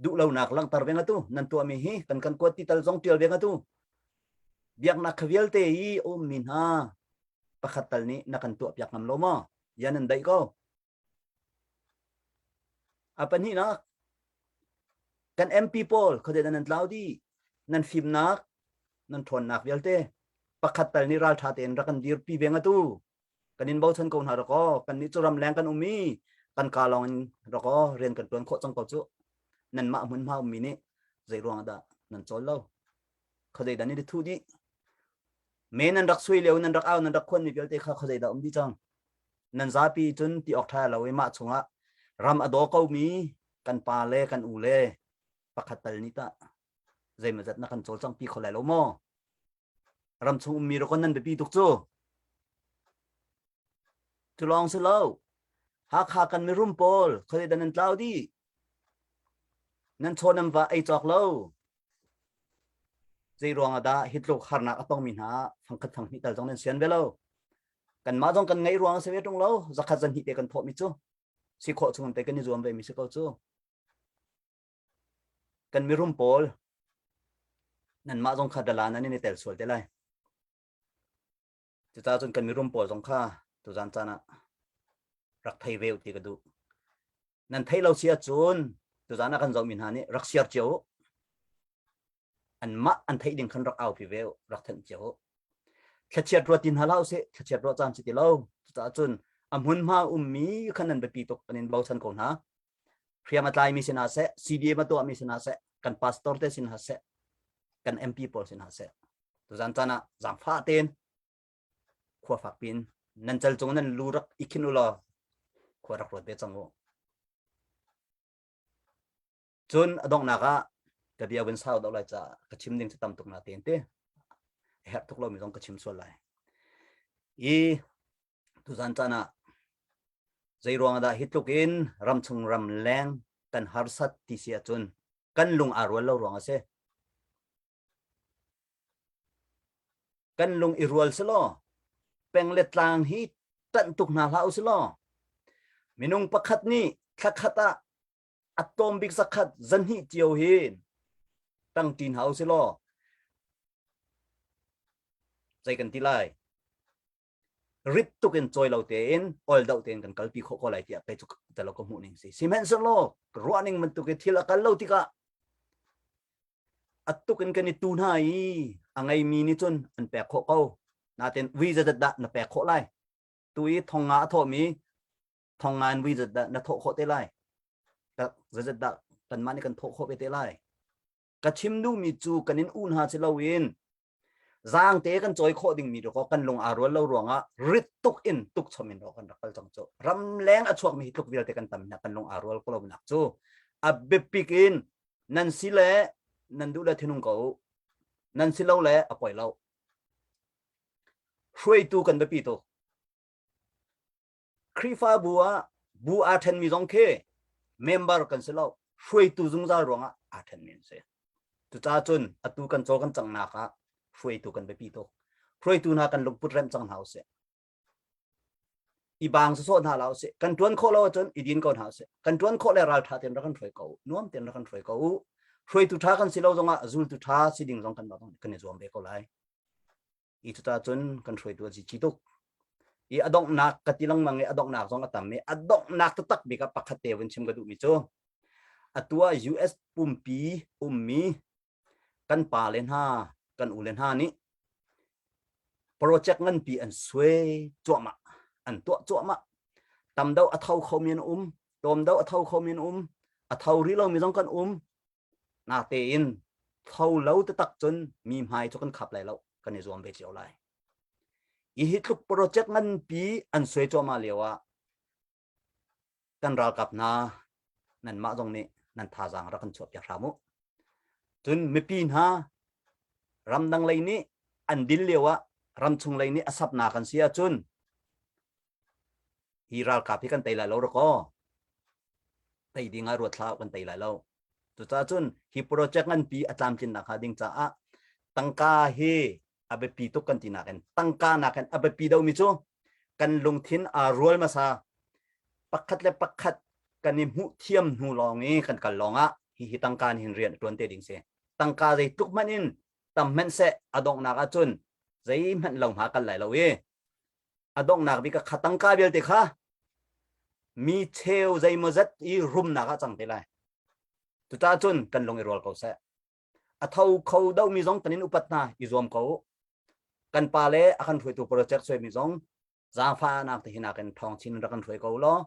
Duh lonak langhter ve ngatu nan tuahmi hi kan kan kuat ti tal zong tial ve ngatu. Biaknak kha vialte i ummi hna pakhat tal nih na kan tuah piak ngam lo maw? Ya nan daih ko. A pahnihnak, kan MP pawl khodet nan tlau di nan fimnak nan ṭhawnnak vialte pakhat tal nih ralṭha tein rak kan dirpi ve ngatu kan in bochan ko hna rak aw kan nih cu ramleng kan um i kan ka lawng in rak aw rian kan ṭuan khawh cang ko cu nanmah hmunhma ummi nih zeiruang ah dah nan cawl lo khuazei dan in ri thu dih me nan rak sui leo nan rak au nan rak khon mi vialte kha khuazei dah um dih cang nan zapi cun ti awk tha lo i mah chungah ram a daw ko mi kan pa le kan u le pakhat tal ni ta zeima zat na kan col cang pi kho lai lo maw ram chung um mi ro kon nan biapi tuk cu tu lawng si lo hakha kan mirum pawl khuazei dan nan tlau di nan chaw nan va ei cawk lo Zeiruang ah dah hi tluk harnak a tongmi hna fangkhat fang hnih tal zong nan sian ve lo. Kanmah zong kan ngeih ruang a si ve ṭung lo. Zakhat zan hnih te kan thawhmi cu si khawh chung te kan i zuam vemi si ko cu. Kan mirum pawl nanmah zong kha dala nan in i tel sual te lai. Cuta cun kan mirum pawl zong kha tuzan caan ah rak thei ve ti ka duh. Nan thei lo si ahcun tuzan ah kan zohmi hna nih rak siar cio u. An mah an theih ding khan rak aupi ve u, rak thenh cio u. Thlachiat ruat ti hna la u sih, thlachiat ruat caan si ti lo. Cuta cun a hmunhma ummi khan nan biapi tuk an in bochan ko hna. hriang a tlaimi sinah seh CDM a tuahmi sinah seh kan pastor te sinah seh kan MP pawl sinah seh tuzan chan ah zangfa tein khua fak pin nan chal cung nan lu rak ikhin ulo khua rak ruat ve cang u cun adongnak ah ka bia wen sau dau lai ca ka chim ding cu tam tuk na te te herh tuk lo mi zong ka chim sual lai i Tuzan caan ah zeiruang dah hi tluk in ramchung ram leng kan harsat ti si ahcun kan lung aa rual lo ruang a si. Kan lung i rual si law peng le tlang hi tanh tuk hna hlah u si law minung pakhat nih thla khat ah a tawm bik zakhat zan hnih cio hi tang ṭin hau si law zei kan ti lai rip tuk in cawi lo tein oil doh tein kan kalpi khawh ko lai tiah pei cu talo ka hmuhning si sihmanhsehlaw ruahning bantuk i thil a kal lo tikah atuk in kan i tu hna i a ngeimi nih cun an pek khawh ko natin wi zadat dah na pek khawh lai tu i thonga a thawhmi thongan wi zadat na thawh khawh te lai zadat dah kanmah nih kan thawh khawh ve te lai ka chim duhmi cu kan in u hna si loin zaangte kan cawi khawh dingmi tu ko kan lung aa rual lo ruangah rit tuk in tukchom in kan rak kal cang cu ram leng a chuakmi hi tluk vialte kan tam hna kan lung aa rual ko lonak cu a biapik in nan si le nan duh le thinung ko nan si lo le a poi lo hruaitu kan biapi tuk Khrihfabu ah bu aa ṭhenmi zong khi member kan si lo, hruaitu zungzal ruangah aa ṭhenmi an si. Cucaah cun atu kan caw kan cangnak ah hruaitu kan biapi tuk. Hruaitu hna kan lungput remh cang hna usih. I bang sawsawh hna la usih. Kan ṭuan khawh lo ahcun i din ko hna usih. Kan ṭuan khawh le ralṭha tein rak kan hruai ko u. Nuam tein rak kan hruai ko u. Hruaitu ṭha kan si lo zongah zultu ṭha si ding zong kan kan i zuam ve ko lai. i cuta cun kan hruaitu a si ci tuk i adonghnak ka ti lengmang i adonghnak zong a tam i adonghnak taktak bik ah pakhat te vun chim ka duhmi cu atu ah US pumpi ummi kan pa le hna kan u le hna nih project nganpi an sue cuahmah an tuah cuahmah tamdo a tho khomi an um tomdo a tho khomi an um a tho rih lomi zong kan um Ngakte in tho lo tatak cun mi hmai cu kan khap lai lo kan i zuam ve cio lai. Hihi tluk project nganpi an suai cuahmah lio ah kan ralkap hna nan mah zong nih nan thazaang rak kan chuahpiak hram u. Cun mipi hna ramdang lei nih an dil lio ah ramchung lei nih a sapnak an si ahcun Hi ralkap hi kan tei lai lo rakaw tei ding ah ruat hlah kan tei lai lo. Cucaah cun hi project nganpi a tlamtlinnak hnga ding caah tangka hi a biapi tuk kan ti nakin tangka nakin a biapi domi cu kan lungthin aa rual hmasa pakhat le pakhat kan i hmuh thiam hnu lawng i kan kal lawng ah hihi tangka nih hin rian tuan te ding si tangka zei tuk hmanh in tam hmanh se a donghnak ah cun zei hmanh lo hma kan lai lo i a donghnak bik a kha tangka vialte kha mi cheu zeimaw zat i rumnak ah cang te lai tuta cun kan lung i rual ko seh a tho kho domi zong tanin upat hna i zuam ko kan pa le a kan hruaitu project soimi zong zaangfahnak te hinak in thong chin rak kan hruai ko law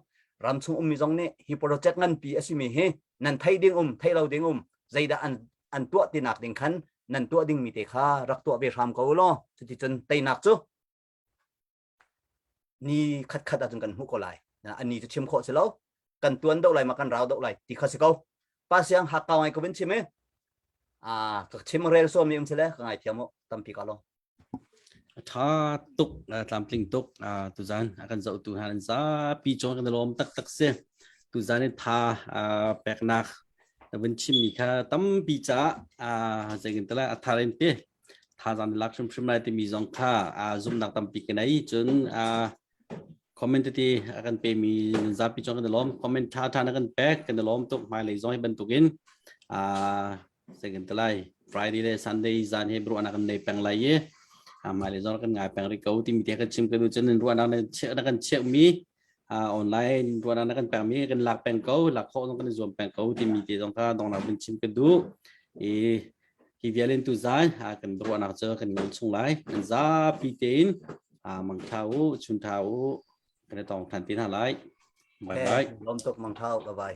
ram chung ummi zong nih hi project nganpi a simi hi nan thei ding um thei lo ding um zeidah an an tuah tinak ding khan nan tuah dingmi te kha rak tuah ve hram ko law cuti cun teinak cu ni khatkhat ahcun kan hmuh ko lai an ni cu chim khawh si lo kan tuan do lai ma kan rau do lai ti kha si ko pa siang hak kau ngai ko bin chim e a ka chim rel so mi um sile ka ngai thiam tampi ka lo tha tuk tlamtling tuk tu zan akan zo tu han za pi chon kan lom tak tak se tu zan tha peknak na vin chim mi kha tampi cha zengin tala atharin te thazaang lak hrimhrim lai timi zong kha zumnak tampi ka nei cun comment tete a kan pe mi nan zapi cun kan lawm comment tha tha na kan pek kan lawm tuk hmai lei zong hi bantukin sai kan talai friday le sunday zan he bru ana kan nei peng lai ye hmai lei zong kan ngai peng ri ko timi te kan chim kan cun ruana na kan chiak mi online tuan na kan pengmi kan lak peng ko lak khawh zong kan zuam peng ko timi te zong kha dongnak bin chim ka du i hi vialin tu zai kan ruahnak cu kan non chung lai kan za pi tein mang tha u chun tha u kan tong than tin ha lai bye bye lom tuk mang tha u bye